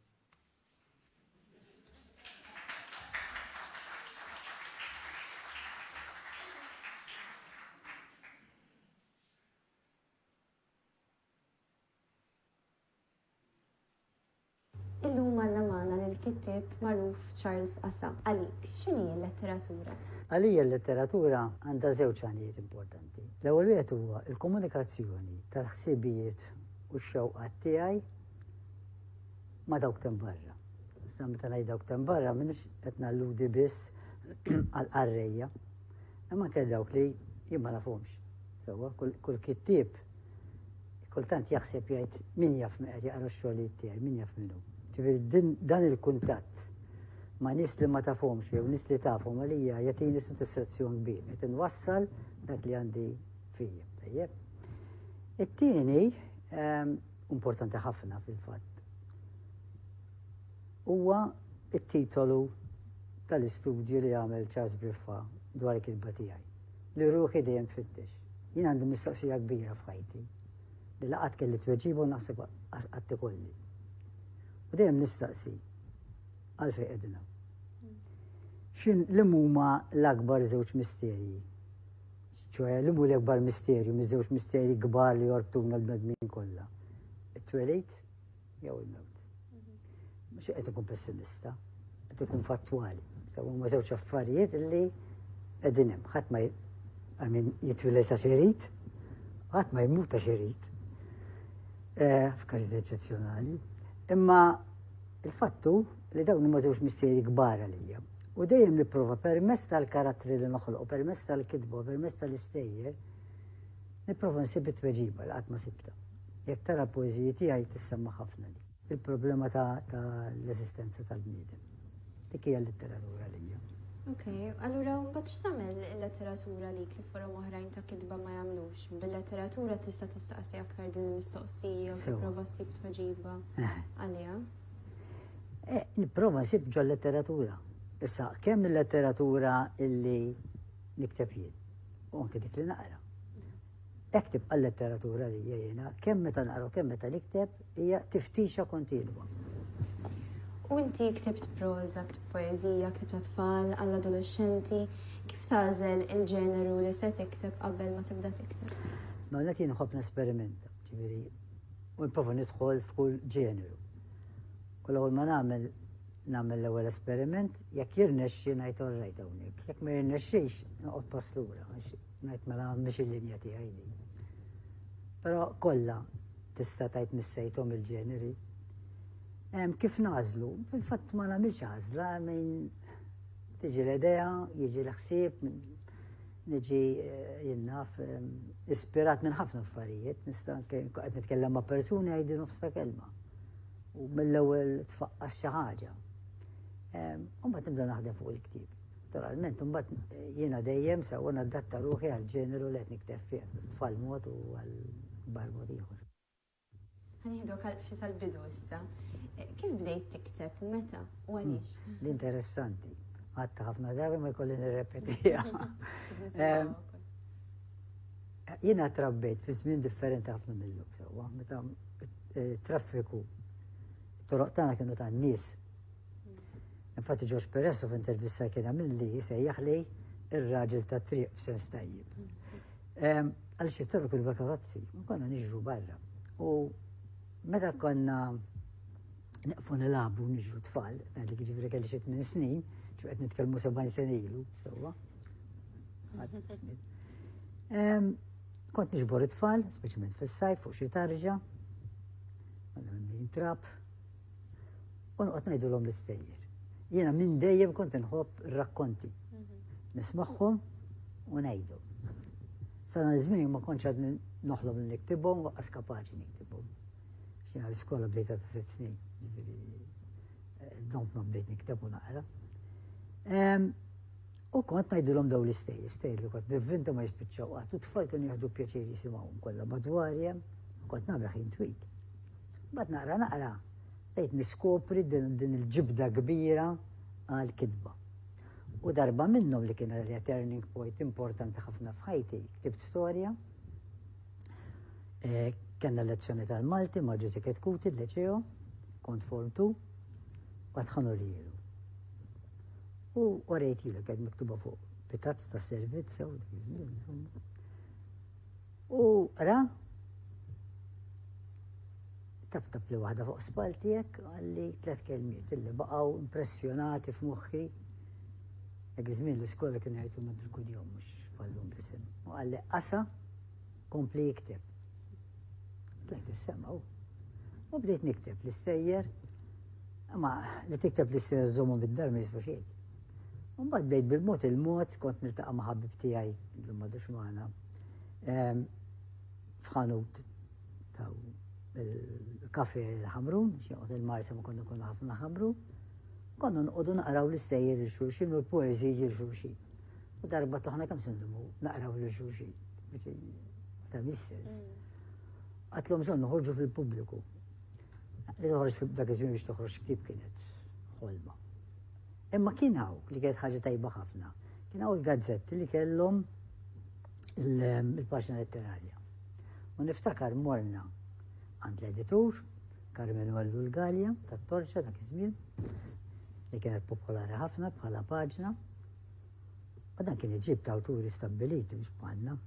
Illum għandna magħna lill-kittieb magħruf Charles Assa. Għalik, x'inhi l-letteratura? Għalija l-letteratura għandha żewġ għanijiet importanti. L-ewwel wieħed huwa l-komunikazzjoni tal-ħsibijiet u x-xewqat tiegħi ma' dawk tem barra. Issa meta ngħid dawk tem barra m'iniex qed nalludi biss għal qarrejja Imma anke dawk li jien ma nafhomx. Sewwa, kull kittieb kultant jaħseb jgħid min jaf min qed jaqra x-xogħlijiet tiegħi, min jaf minnu. Ġifieri dan il-kuntatt ma' nies li ma tafhomx jew nies li tafhom għalija jagħtini sodisfazzjon kbir qed inwassal dak li għandi fija. Tajjeb. It-tieni ehm, importanti ħafna fil-fatt. Huwa t-titolu tal-istudju li għamel Charles Briffa dwar il-kitba tiegħi, li ruħi dejjem tfittex. Jien għandi mistoqsija kbira f'ħajti li la qatt kelli tweġiba u naħseb qas qatt ikolli. U dejjem nistaqsi għalfejn qegħdin hawn. X'in li huma l-akbar żewġ misterji? ċoħe li mhu l-akbar misterju, miż-żewġ misterji kbar li jorbtuna l-bnedmin kollha. It-twelid Jew il-mewt. Mhux qed ikun pessimista, qed ikun fattwali. Sewa huma żewġ affarijiet li qegħdin hemm. Ħadd ma għamin jitwiled ta' xerit, ħadd ma jmut ta' xerit. Eh, f'każijiet eċċezzjonali. Imma il-fattu li dawn huma żewġ missieri kbar għalija. U dejjem nipprova permess tal-karattri li noħloq, permess tal-kitba, permess tal-istejjer, nipprova nsib it-tweġiba li qatt ma sibta. Jekk tara l-poeżiji tiegħi tissemma' ħafna dik. Il-problema ta' l-eżistenza tal-bniedem. Dik hija l-letteratura lija. Ok, allura mbagħad x'tagħmel il-letteratura lik li forom oħrajn ta' kitba ma jagħmlux? Bil-letteratura tista' tistaqsi aktar din il-mistoqsija u tipprova ssib tweġiba eh. għaliha. Eh, nipprova nsib ġol letteratura. Issa, kemm il-letteratura illi nikteb jien, u anke dik li naqra. Hekk tibqa' l-letteratura għalija jiena, kemm meta naqra u kemm meta nikteb, hija tiftixa kontinwa. U inti ktibt proża, ktibt poeżija, ktibt għat-tfal, għall-adolexxenti, kif tagħżel il-ġeneru li se tikteb qabel ma tibda tikteb? L-ewwel nett jien nħobb nesperimenta, ġifieri u nipprova nidħol f'kull ġeneru. U l-ewwel ma nagħmel nagħmel l-ewwel esperiment, jekk jirnexxi ngħid orrejt hawnhekk, jekk ma jirnexxix noqgħod pass lura. Ngħid mela mhix il-linja tiegħi din. Però kollha tista' tgħid missejthom il-ġeneri. Kif nażlu? Fil-fatt ma nagħmilx għażla minn tiġi l-idea, jiġi l-ħsieb, niġi eh, jinnaf ehm, ispirat minn ħafna affarijiet, nista' qed nitkellem ma' persuni għajdi nofsa kelma. U mill-ewwel tfaqqas xi ħaġa. Ehm, u ma tibda naħdem fuq il-ktieb. Naturalment, imbagħad jiena dejjem sewwa nadatta ruħi għall-ġeneru li qed nikteb fih, b'tfal mod u għal kbar mod ieħor. Ħa nieħduk għal ftit għall-bidu issa. Kif bdejt tikteb, meta u għaliex? Din interessanti. Għatta ħafna drabi ma jkolli nirrepetiha. Jiena trabbejt fi żmien differenti ħafna mill-lum sewwa, meta eh, traffiku toroq tagħna kienu tan-nies Infatti George Peresso f'intervista kien għamil li jisejjaħ li ir-raġel ta' triq f'sens tajjeb. Għaliex jittorru kull karozzi, konna niġru barra. U meta konna neqfu nilabu niġru tfal, għadli kġivri kelli xit minn snin, ċu għed nitkelmu 70 sen ilu, sewa. Kont nġbor it-tfal, speċjalment fis-sajf fuq xi tarġa, għadna minn trap, u noqgħod ngħidulhom l-istejjer. Jiena minn dejjem kont inħobb rakkonti. Mhm. Nismagħhom u ngħidu. Sana żmien ma kontx għad noħlob li niktibhom u qas kapaċi niktibhom. Xina l-iskola bdejta ta' sitt snin, ġifieri eh, dont ma bdejt nikteb u naqra. U kont ngħidulhom daw l-istej, istej li kont nivvinta ma jispiċċaw qatt u tfal kienu jieħdu pjaċir jisimgħu kollha madwarja, kont nagħmel ħin twil. Mbagħad naqra naqra bdejt niskopri din il-ġibda kbira għal kitba. U darba minnhom li kien għalija turning point importanti ħafna f'ħajti, ktibt storja. Eh, Kenna lezzjoni tal-Malti ma' ġizi ketkuti l-leċeo, kont form tu, għadħanu li jilu. U għarajt jilu, għed miktuba fuq, pitazz ta' servizz, U ra, tap tap li waħda fuq spaltijek, għalli tlet kelmiet illi baqaw impressjonati f'moħħi. Dak iż-żmien l-iskola kien jgħiduna bil-kudjom mhux bħallum l-isem. U għalli qasa kompli jikteb. Tlajt is-semaw. U bdejt nikteb l-istejjer, ma li tikteb l-istejjer żommu bid-dar ma jisbu xejn. Mbagħad bdejt bil-mod il-mod kont niltaqa' ma' ħabib tiegħi l-madux magħna F'ħanut ta' il-kafe l-ħamrun, xieqot il-marsa ma konna konna ħafna ħamru, konna nqodu naqraw l-istejjer il-xurxin u l-poezi il-xurxin. U darba taħna kam sendumu naqraw l-xurxin, ta' mistess. Mm. Għatlom son nħorġu fil-publiku. Li toħroġ fil-dak iżmin biex toħroġ kif kienet ħolma. Imma kien hawn li kienet ħaġa tajba ħafna. Kien hawn il-gazzetti li kellhom il-paġna letterarja. U niftakar morna għand l-editur, Carmen Wallu l-Galja, ta' Torċa dak iż-żmien, li kienet popolari ħafna bħala paġna. U dan kien iġib ta' awturi stabbiliti biex bħalna.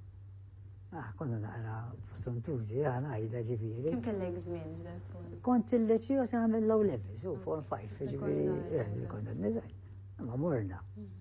Ah, konna naqra f'Suntuzi, ah, għajda ġifiri. Kim kellek zmin? Kont il-leċi u se għamil low level, so form 5, ġifiri, eh, konna n-nizaj. Ma morna. Mhm.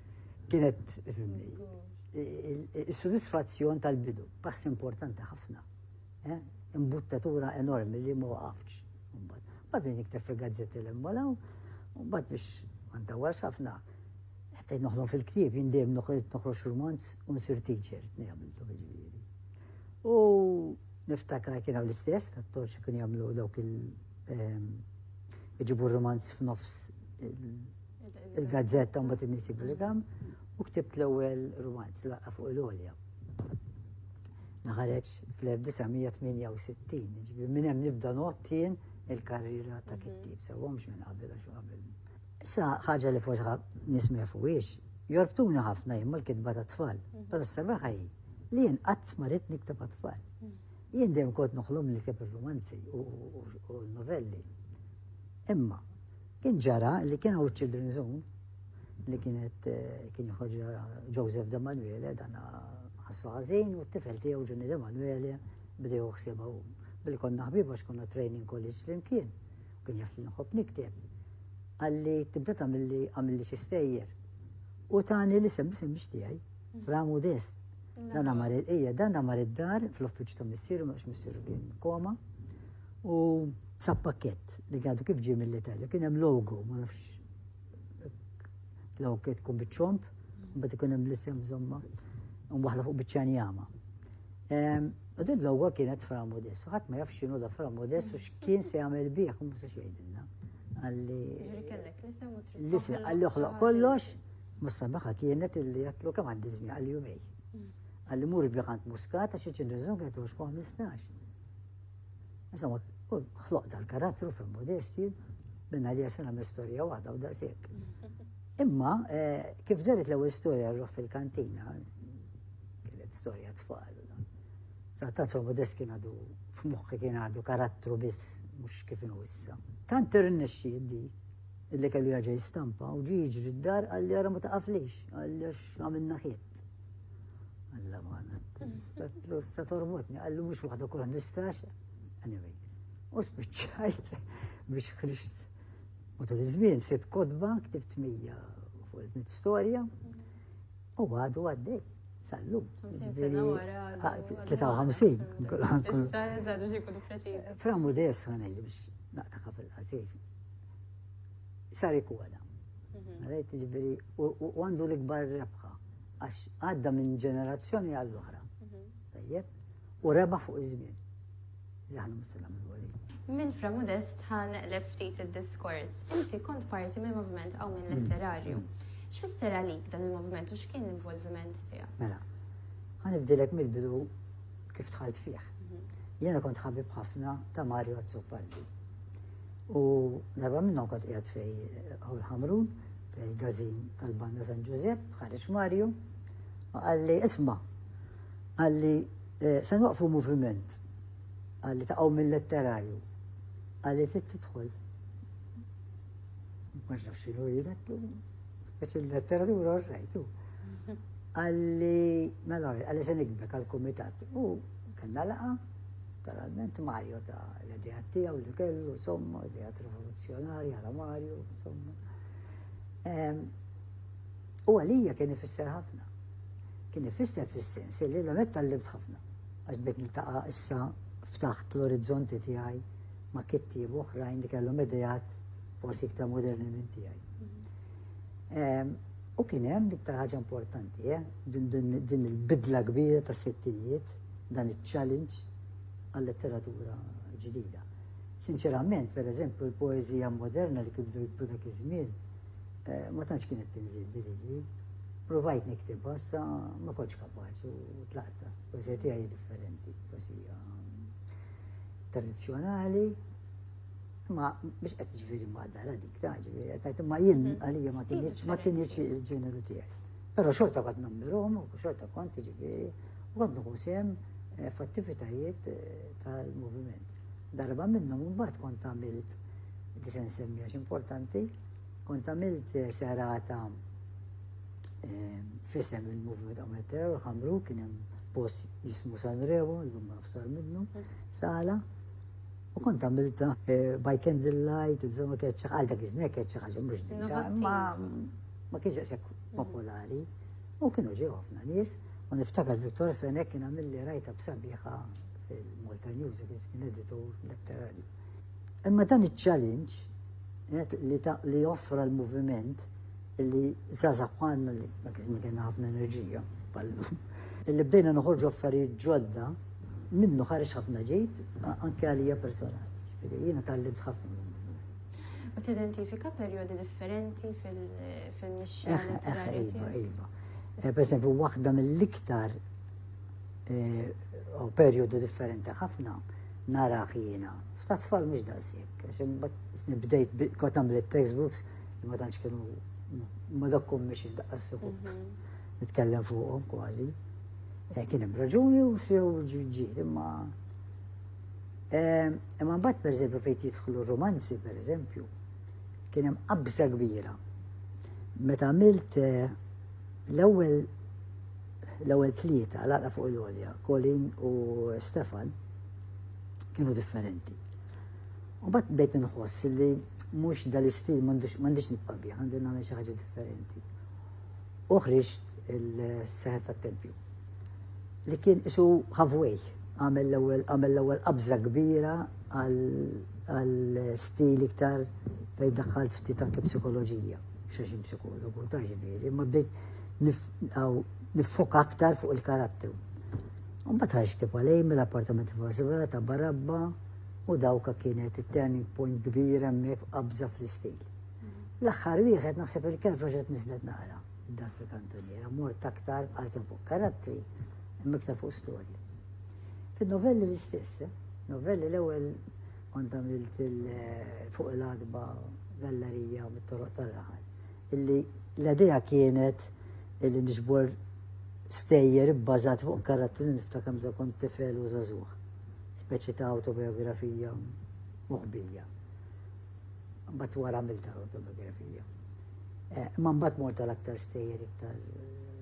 Kienet, fimni, il-sodisfazzjon tal-bidu, pass importanti ħafna. Eh? Imbuttatura enormi li ma waqafx. Badin iktar fil-gazzetti l-emmolaw, bad biex għanta għas ħafna. Għettajt noħdom fil-ktib, jindem noħroġ romanz un sir teacher, t-nejamiltu bieġviri. U niftakar kien għaw l-istess, t-torċi kien jamlu dawk il- ehm, iġibu romanz f'nofs il-gazzetta mbagħad in-nies jippubblikaw u ktibt l-ewwel rumanz laqqa fuq il-għolja. Naħareġ fl-1968, ġifieri minn hemm nibda nottien il-karriera ta' kittib, sewwa mhux minn qabel għax qabel. Issa ħaġa li forsi nies ma jafuhiex, jorbtuna ħafna jien mal-kitba ta' tfal, mhm. però s-sabaħa hi li jien qatt ma rrid nikteb tfal. Mhm. Jien dejjem kont noħlom li keb ir-romanzi u l-novelli. Imma Kien ġara li kien hawn Children Zone li kienet eh, kien joħorġ Joseph De Manuele dan ħassu ħażin u t-tifel tiegħu Ġunni De Manuele bdew ħsieba hu. Billi konna ħbib għax konna training college flimkien, kien jaf li nħobb nikteb. Għalli tibda tagħmilli għamilli xi stejjer. U tani li sem bisem biex tiegħi, framu dest. Dan għamar ija, dan għamar id-dar fl-uffiċċju ta' missieru, mhux missieru kien koma. U sab pakket li għadu kif ġie mill-Italja, kien hemm logo, ma nafx l-għu kiet kun bitċomp, bat ikun hemm l-isem zomma, un waħla fuq bitċanjama. Ehm, u din l-għu kienet fra modest, ħadd ma jafx xinu da fra modest u x'kien se jagħmel bih, u se xejdinna. Għalli. L-isem għalli uħloq kollox, mussa baħa kienet illi jatlu kam għaddi żmien għal jumej. Għalli mur biħant muskata xi ċin rizunga 15. Insomma, u ħloq dal-karattru fil-modesti minna li jasena storja waħda u daqsek. Imma, eh, kif ġaret l ewwel storja rruħ fil-kantina, kienet storja tfal. Sattat fil-modest kien għadu, f'muħħi kien għadu karattru biss, mux kif nu issa. Tant irnexxi di, illi kellu jaġa jistampa u ġiġri d-dar għalli għara ma taqaflix, għalli għax għamilna ħiet. Alla maħna, sa tormotni, għallu mux waħda kol nistax, anyway. U spiċċajt biex ħriġt u tal izmin sitt kodba ktibt mija fuq il-mit storja u għadu għaddej. Sallum. 53. Framu des għanaj biex naqtaqa fil-qasir. sar ikola. Rajt ġifiri, u għandu l-ikbar rebħa, għax għadda minn ġenerazzjoni għall-oħra. Tajjeb, u reba fuq iż-żmien. Li ħana mustilna minn għoli. Minn fra modest ħan l ftit il-diskors. Inti kont parti mill movement għaw minn mm. letterarju. Mm. X'fisser għalik dan il movement u x'kien l-involviment tiegħek? Mela, ħan ibdilek mill-bidu kif tħalt fih. Mhm. Jena kont ħabib ħafna ta' Mario Azzopardi. U darba minnhom kont qiegħed fej Awl Ħamrun, fej il-gazin tal-Banda San Ġużepp, ħareġ Mario, u qalli isma' qalli eh, se nwaqfu moviment qalli taqgħu mill-letterarju qalli trid tidħol. Ma nafx xinu jilek, biex il-letteratura rajtu. Qalli, mela, qalli se nikbek għal-komitat. U kellna laqa, Naturalment Mario ta' l-idejat tiegħu li kellu, insomma, idejat rivoluzzjonari għala Mario, insomma. Ehm, u għalija kien ifisser ħafna. Kien ifisser fis-sens li l metta tal-libt ħafna. Għax bit niltaqa' issa ftaħt l-orizzonti tiegħi ma' kittieb oħrajn li kellhom idejat forsi iktar moderni minn tiegħi. Ehm, u kien hemm l-iktar ħaġa importanti, eh, din il-bidla kbira tas-sittinijiet dan iċ-challenge għal-letteratura ġdida. Sinċerament, per eżempju, l-poezija moderna li kibdu jibdu dak iż-żmien eh, ma tantx kienet tinżil li Provajt niktib sa ma kontx kapaċi u tlaqta. Poezija tiegħi differenti, poezija tradizzjonali, ma biex qed ġifieri ma dara dik ta' ġifieri qed ma jien mhm. għalija ma kienx ma kienx il-ġeneru tiegħi. Però xorta kont nammirhom u xorta kont ġifieri u għandu jkun sehem eh, f'attivitajiet eh, tal-moviment. Darba minnhom imbagħad kont għamilt li se nsemmi għax importanti, kont għamilt eh, serata fissem il-movement għamiltera u ħamru kien hemm post jismu San Rewo, l-lum ma nafsar minnu, sala, U kont għamilta eh, by candlelight, insomma, kieċa, għal dak iż-żmien kieċa ħaġa mhux dika, ma ma kienx hekk popolari. U kienu ġew ħafna nies, u niftakar Viktor Fenek kien għamilli rajta b'sabiħa fil-Malta News, kien editur letterarju. Imma dan iċ-challenge li offra l-moviment illi zazak għanna li ma kizmi kena ħafna enerġija pallu. Illi bdejna noħorġu affarijiet ġodda minnu ħarex ħafna ġejt anke għalija personali. Jiena tal-limt ħafna U tidentifika perjodi differenti fil-mixja eh, eh, letterarja iva, tiegħek. Iva. Eh, per esempio, waħda mill-iktar u perjodu differenti ħafna nara jiena. F'ta' tfal mhux daqshekk, għax nibdejt kont għamlet textbooks li ma tantx kienu ma dokkum biex indaqqas suħub. Mhm. Nitkellem fuqhom kważi. Eh, kien hemm raġuni u sew ġiet imma Imma mbagħad pereżempju fejn jidħlu romanzi pereżempju, kien hemm qabża kbira. Meta għamilt eh, l-ewwel l-ewwel tlieta laqla fuq l-olja, Colin u Stefan kienu differenti. U bat bejt nħoss li mhux dal-istil m'għandix nibqa' bih, għandi nagħmel xi ħaġa differenti. Uħriġt il-seħet tat-tempju. li kien qisu halfway, għamel l-ewwel għamel l-ewwel qabża kbira għal stil iktar fejn daħħalt ftit anke psikoloġija, xax psikologu ta' ġifieri, ma bdejt niffoka aktar fuq il-karattru. Mbagħad ħarġ tip għalej mill-appartament f'Vasivera ta' Barabba u dawka kienet it-turning point kbira hemmhekk qabża fl-istil. L-aħħar wieħed naħseb il-kelf għax qed niżlet naqra. Dan fil-kantuniera mort aktar għal kien fuq karattri imma iktar fuq storja. Fin-novelli l-istess, eh? novelli l-ewwel kont għamilt eh, fuq l-adba gallerija u mit-toroq tal-raħal. Illi l-idea kienet illi nġbor stejjer bbażat fuq karattri li niftakar meta kont tifel u żagħżugħ. Speċi ta' autobiografija moħbija. Mbagħad wara għamilt autobiografija. Imma mbagħad mort għal aktar stejjer iktar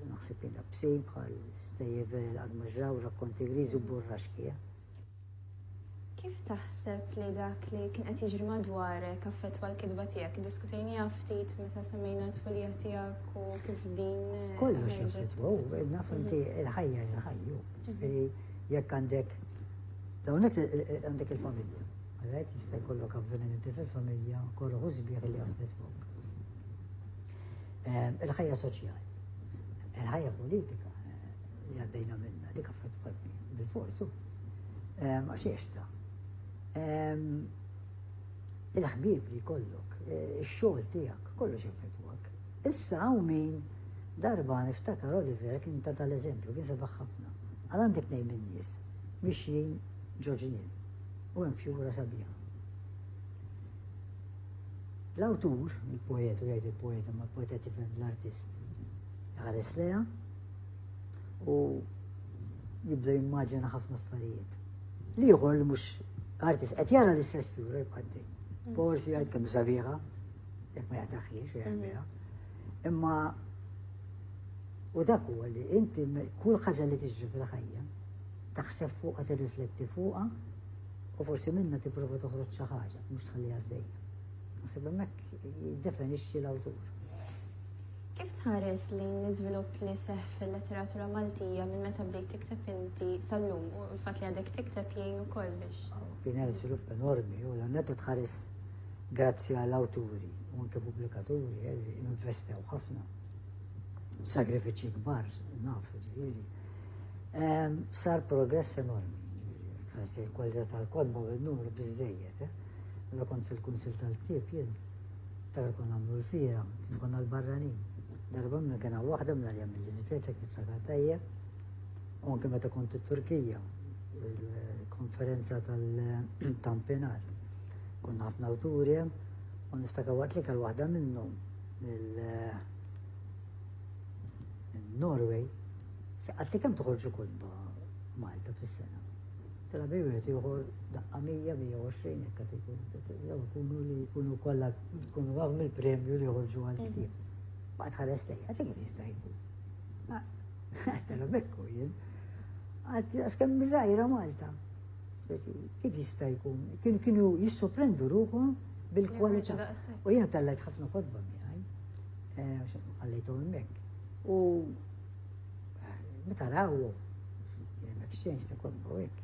naħseb jien bsin bħal stejjer veri l-qadmaġraw, rakkonti griżi u burraxki. Eh? Kif taħseb li dak li kien qed jiġri madwarek affettwa l-kitba tiegħek? Diskutejnija ftit meta semmejna t-tfulija tiegħek u kif din. Eh, Kollox jaffettwa, naf inti mhm. il-ħajja il-ħajju. Mhm. Jekk għandek, dawnek eh, eh, għandek il-familja. Għalhekk jista' jkollok avvenimenti fil-familja korroħ u sbieħ li jaffettwok. Ehm, il-ħajja soċjali, il-ħajja politika eh, li għaddejna minna dik affettwatni bil-forzu ehm, għax jiexta. Ehm, il-ħbib li kollok, eh, ix-xogħol tiegħek, kollox jaffettwak. Issa hawn min darba niftakar Oliver kien ta' tal-eżempju kien sebaħ ħafna. Għal għandek nejn min-nies mixjin ġoġnien. U hemm fjura sabiħa. L-awtur, il-poet, u jgħid il-poet, ma l-poet qed jifhem l-artist, jħares leha u jibda jimmaġina ħafna affarijiet. L-ieħor li mhux artist qed jara l-istess fjura jbaddi. Mm. Forsi jgħid kemm sabiħa, jekk ma jagħtaħiex u jgħidha. Mm. Imma u dak huwa li inti kull ħaġa li tiġri fil-ħajja Taħseb fuqha, tirrifletti fuqha u forsi minnha tipprova toħroġ xi ħaġa, mhux tħalliha għaddejja. Naħseb hemmhekk jiddefinixxi l-awtur. Kif tħares lejn l-iżvilupp li seħħ fil-letteratura Maltija minn meta bdejt tikteb inti sal-lum u l-fatt li għadek tikteb jgħin ukoll biex? Kien hemm żvilupp enormi u l-għannet tħares grazzi għal awturi u anke pubblikaturi eh, li investew ħafna. Sagrifiċċji kbar, naf, ġifieri. Sar progress enormi. Għazzi l-kwalità tal-kodba u n-numru biżejjed. Eh? Mela kont fil-kunsil tal-ktieb jien, tal kon għamlu l-fira, kien konna l-barranin. Darba minna kena waħda minna li għamil l-izveċa kif fakat tajjeb, u anke meta kont it-Turkija, il-konferenza tal-tampinar. Konna ħafna awturi, u niftaka waqt li kal waħda minnhom mill-Norway, Saqatli kemm toħorġu kotba Malta fis-sena? Tela bej wieħed joħor daqqa 120 hekk qed ikun. Jew ikunu li jkunu kollha tkunu għaw mill-premju li joħorġu għal mm. ktieb. Baqgħet ħares lejn, qed ikun jista' jkun. Tela bekku jien. Għad kemm miżajra Malta. Speċi kif jista' jkun? Kien kienu jissoprendu ruħhom bil-kwalità. U jiena tellajt ħafna kotba miegħi. Eh, għallejtu hemmhekk. U Meta rawhom, l-exchange ta' kolba u hekk.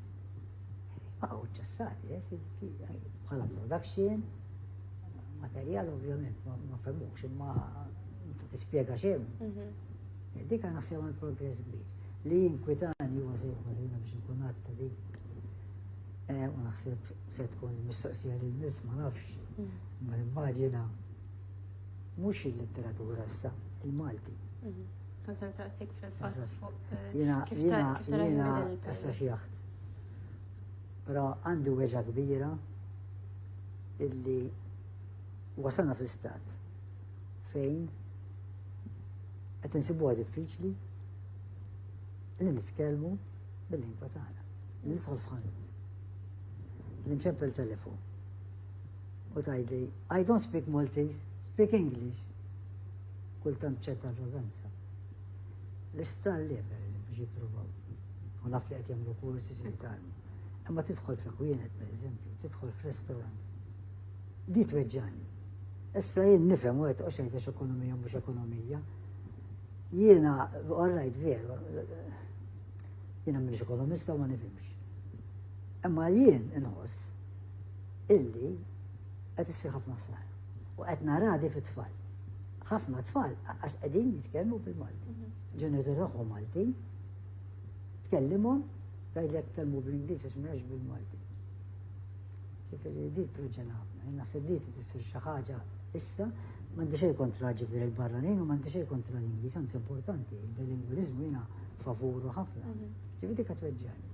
Baqgħu ċessati, eh, bħala production, materjal ovvjament ma femmux imma ta' tispjega xejn. Mhm. Eh, dik għana sewa l-progress kbir. Li jinkwitani huwa se jkun li biex nkun għatta di. Eh, u naħseb se tkun mistoqsija li l-nis ma nafx. Mhm. Ma nimmaġina Mhux il-litteratura issa, il-Malti. Mhm. Kont se nsaqsik fil-fatt fuq eh, kif tara dan il-pajjiż. Però għandi weġa kbira illi wasalna fl-istat fejn qed insibuha diffiċli li nitkellmu bil-lingwa tagħna. Nidħol f'ħanut. Li nċempel telefon U tgħidli, I don't speak Maltese, speak English. Kultant b'ċerta arroganza. L-isptar li per eżempju xi provaw. U naf li qed jagħmlu kursi si jitalmu. Imma tidħol fi kwienet per eżempju, tidħol f'restaurant. Di tweġġani. Issa jien nifhem u qed oxejn għax ekonomija mhux ekonomija. Jiena orrajt veru. Jiena m'iniex ekonomista u ma nifhimx. Imma jien inħoss illi qed issir ħafna ħsara. U qed nara di fit-tfal. Ħafna tfal għas qegħdin jitkellmu bil-Malti. Mhm. Ġenetur tagħhom Maltin, tkellimhom tgħidlek tkellmu bl-Ingliż għax mhux bil-Malti. Ġifieri di truġġen ħafna, naħseb li tissir xi ħaġa issa m'għandi xejn kontra ġifieri l-barranin u m'għandi xejn kontra l-Ingliż, anzi importanti, il-bilinguliżmu jiena favuru ħafna. Mhm. Ġifieri dik qed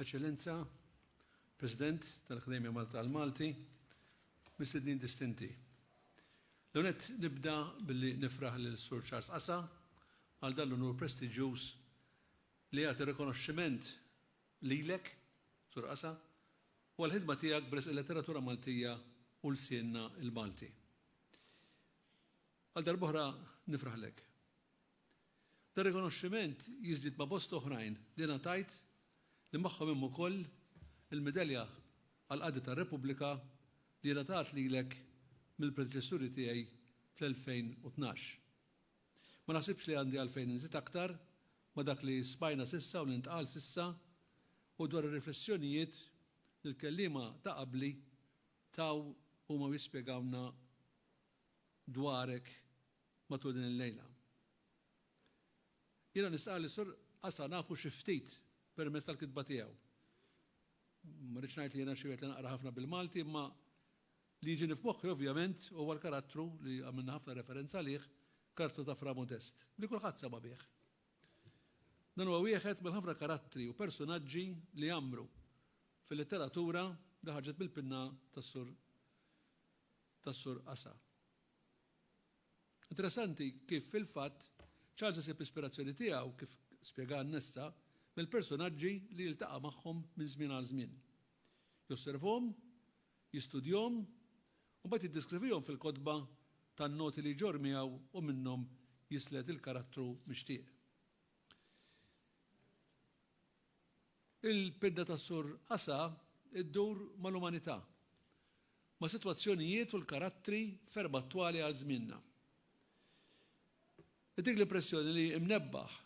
Eċċellenza, President tal-Akkademja Malta għall-Malti, mistednin distinti. L-ewwel nett nibda billi nifraħ lil Sur Charles Qasa għal dan l-unur prestiġjuż li jagħti rikonoxximent lilek, Sur Qasa, u għall-ħidma tiegħek b'risq il-letteratura Maltija u lsienna l-Malti. Għal darb'oħra nifraħlek. Dan rikonoxximent jiżdied ma' bosta oħrajn li ngħatajt li magħhom hemm ukoll il-Medalja għall-Qadi tar-Repubblika li ngħatat lilek mill-predeċessuri tiegħi fl-2012. Ma naħsibx li għandi għalfejn inżid aktar ma' dak li smajna s'issa u li ntqal s'issa u dwar ir-riflessjonijiet li l-kelliema ta' qabli taw huma u jispjegawlna dwarek Matul din il-lejla. Jiena nistqarr li s-Sur Assa nafu xi ftit permezz tal-kitba tiegħu. Ma rridx ngħid li jiena xi wieħed li naqra ħafna bil-Malti imma li jiġini f'moħħi ovvjament huwa l-karattru li għamilna ħafna referenza għalih, karattru ta' Fra Modest, li kulħadd sema' bih. Dan huwa wieħed mill-ħafna karattri u persunaġġi li għammru fil-litteratura li ħarġet mill-pinna tas-Sur tas-Sur Assa. Interessanti kif fil-fatt Charles isib l-ispirazzjoni tiegħu, kif spjega Annessa, mill-persunaġġi li jiltaqa' magħhom minn żmien għal żmien. Josservhom, jistudjhom, u mbagħad jiddiskrivihom fil-kotba tan-noti li jġorr miegħu u minnhom jislet il-karattru mixtieq. Il-pinna ta' Sur Asa ddur mal-umanità, ma' sitwazzjonijiet u l-karattri ferm attwali għal żmienna. Ittik l-impressjoni li mnebbaħ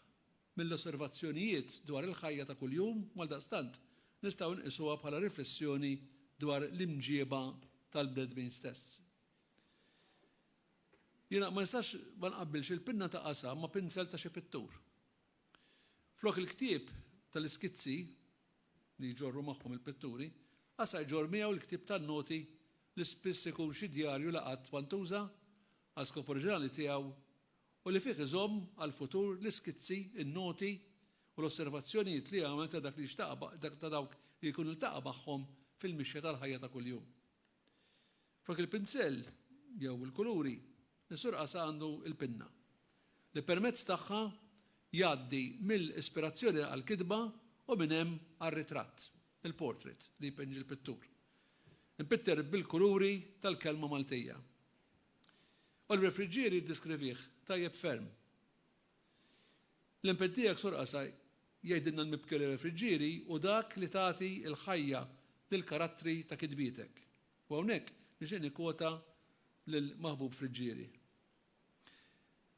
mill-osservazzjonijiet dwar il-ħajja ta' kuljum u għaldaqstant nistgħu nqisuha bħala riflessjoni dwar l-imġieba tal-bnedmin stess. Jiena ma nistax ma nqabbilx il-pinna ta' Asa ma' pinsel ta' xi pittur. Flok il-ktieb tal-iskizzi, li jġorru magħhom il-pitturi, Qasar ġorr miegħu l-ktieb tan-noti li spiss ikun xi djarju li qatt ma ntuża għal skop oriġinali tiegħu u li fih iżomm għall-futur l-iskizzi, in-noti u l-osservazzjonijiet li għamel ta' dak li jxtaq ta' dawk li jkun iltaqa' magħhom fil-mixja tal-ħajja ta' kuljum. Flok il-pinsell jew il-kuluri, is-Sur Qasa għandu l-pinna, li permezz tagħha jgħaddi mill-ispirazzjoni għall-kitba u minn hemm għar-ritratt, il-portrait, li jpinġi l-pittur, impitter bil-kuluri tal-kelma Maltija. Oliver Friggieri jiddiskrivih tajjeb ferm L-impenn tiegħek, Sur Qasaj, jgħidilna l-mibkeli għal Friġġieri hu dak li tagħti l-ħajja lill-karattri ta' kitbietek. U hawnhekk nixtieq nikkwota lil Maħbub Friġġieri.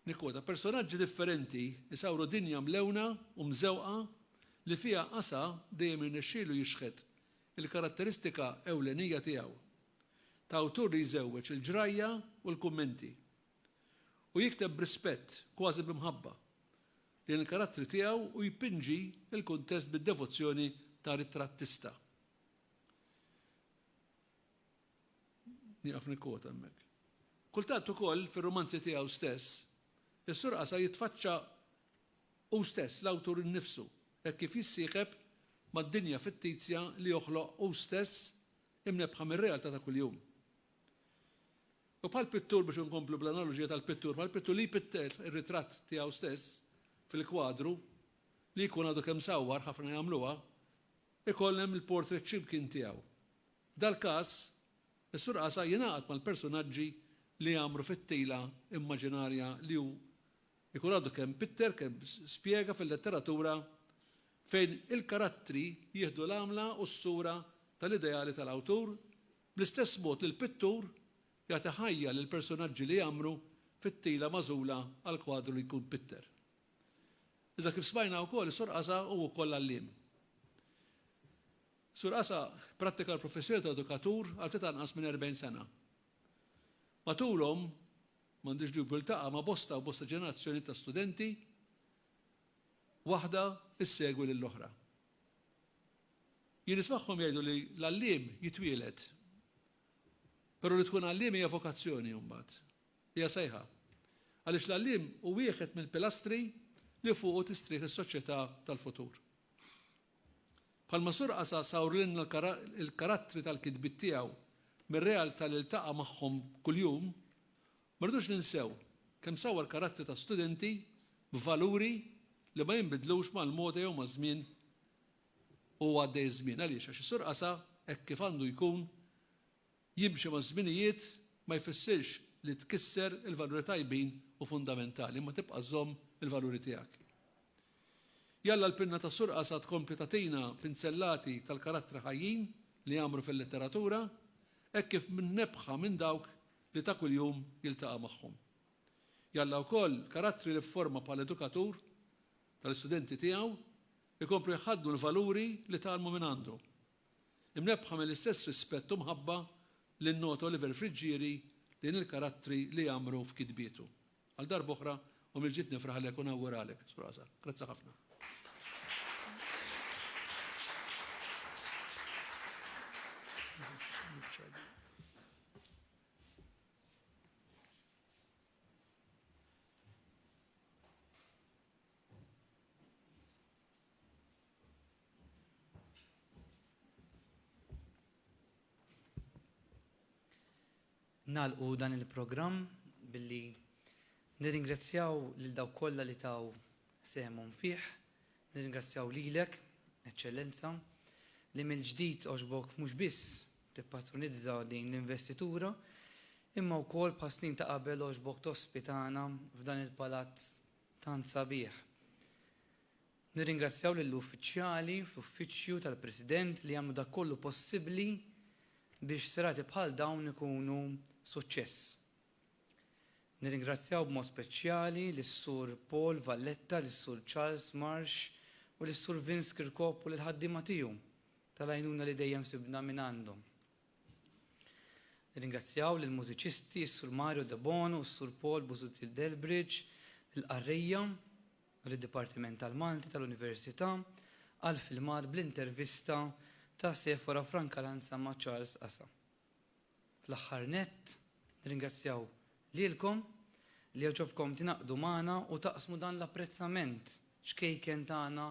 Nikkwota, Personaġġi differenti jsawru dinja mlewna u mżewqa li fiha Qasa dejjem irnexxielu jixħet il-karatteristika ewlenija tiegħu, ta' awtur li jżewweġ il-ġrajja u l-kummenti. u jikteb b'rispett, kważi b'imħabba, lejn il-karattri tiegħu u jpinġi l-kuntest bid-devozzjoni ta' ritrattista. Nieqaf nikkwota hemmhekk. Kultant ukoll fir-rumanzi tiegħu stess, is-Sur Qasa jitfaċċa hu stess, l-awtur innifsu, hekk kif jissieħeb mad-dinja fittizja li joħloq hu stess imnebbħa mir-realtà ta' kuljum. U bħall-pittur, biex inkomplu bl-analoġija tal-pittur, bħall-pittur li jpitter ir-ritratt tiegħu stess fil-kwadru, li jkun għadu kemm sawwar, ħafna jagħmluha, ikoll hemm il-portrait x'imkien tiegħu. F'dal-każ, is-surqasa jingħaqad mal-persunaġġi li jgħammru fit-tila immaġinarja li hu jkun għadu kemm pitter, kemm spjega fil-letteratura fejn il-karattri jieħdu l-għamla u s-sura tal-ideali tal-awtur Bl-istess mod li l-pittur jagħti ħajja lill-persunaġġi li jgħammru fit-tila magħżula għall-kwadru li jkun pitter. Iżda kif smajna wkoll is-Sur Qasa hu wkoll għalliem. Sur Qasa prattika l-professjoni ta' edukatur għal ftit anqas minn 40 sena. Matulhom, m'għandux dubju ltaqa' ma' bosta u bosta ġenerazzjonijiet ta' studenti, waħda ssegwi lill-oħra. Jien nismagħhom jgħidu li l-għalliem jitwieled. Però li tkun għalliem hija vokazzjoni mbagħad. Hija sejħa. Għaliex l-għalliem hu wieħed mill-pilastri li fuqu tistrieħ is-soċjetà tal-futur. Bħalma Sur Qasa sawrilna l-karattri tal-kitbiet tiegħu mir-realtà li ltaqa' magħhom kuljum, ma rridux ninsew kemm sawwar karattri ta' studenti b'valuri li ma jinbidlux mal-moda jew maż-żmien u għaddej iż-żmien. Għaliex? Għax is-Sur Qasa, hekk kif għandu jkun, jimxi maż-żminijiet ma jfissirx li tkisser il-valuri tajbin u fundamentali, imma tibqa' żżomm il-valuri tiegħek. Jalla l-pinna tas-Sur Qasa tkompli tagħtina pinzellati tal-karattri ħajjin li jgħammru fil-letteratura, hekk kif mnebbħa minn dawk li ta' kuljum jiltaqa' magħhom. Jalla wkoll l-karattri li fforma bħala edukatur tal-istudenti tiegħu Ikomplu jħaddnu l-valuri li tgħallmu mingħandu. Imnebbħa mill-istess rispett u mħabba li nnota Oliver Friggieri lejn il-karattri li jgħammru f'kitbietu. Għal darba oħra u mill-ġdid nifraħlek u nawguralek, Sur Asa. Grazzi ħafna. Nagħlqu dan il-programm billi nirringrazzjaw lil dawk kollha li taw sehemhom fih, nirringrazzjaw lilek, Eċċellenza, li mill-ġdid għoġbok mhux biss tippatronizza din l-investitura, imma wkoll bħas-snin ta' qabel għoġbok tospitana f'dan il-palazz tant sabiħ. Nirringrazzjaw lill-uffiċjali fl-Uffiċċju tal-President li jagħmlu dak kollu possibbli biex serati bħal dawn ikunu suċċess. Nirringrazzjaw b'mod speċjali lis-Sur Paul Valletta, lis-Sur Charles Marsh u lis-Sur Vince Kirkop u lill-ħaddiema tiegħu tal-għajnuna li dejjem sibna mingħandhom. Nirringrazzjaw lill-mużiċisti, is-Sur Mario Debono u s-Sur Paul Busuttil Delbridge, lill-qarrejja u lid-Dipartiment tal-Malti tal-Università għall-filmat bl-intervista ta' Sephora Francalanza ma' Charles Asa. Fl-aħħar nett, nirringrazzjaw lilkom li għaġobkom tingħaqdu magħna u taqsmu dan l-apprezzament ċkejken tagħna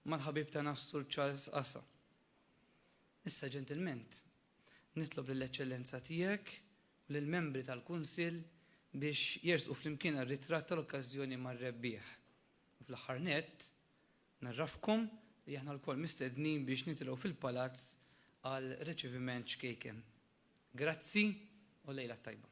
mal-ħabib tagħna s-Sur Charles Asa. Issa ġentilment nitlob lill-Eċċellenza Tiegħek u lill-membri tal-Kunsill biex jersqu flimkien għar-ritratt tal-okkażjoni mar-rebbieħ. U fl-aħħar nett, ngħarrafkom li aħna lkoll mistednin biex nitilgħu fil-Palazz għal riċiviment ċkejken. Grazzi u lejla t-tajba.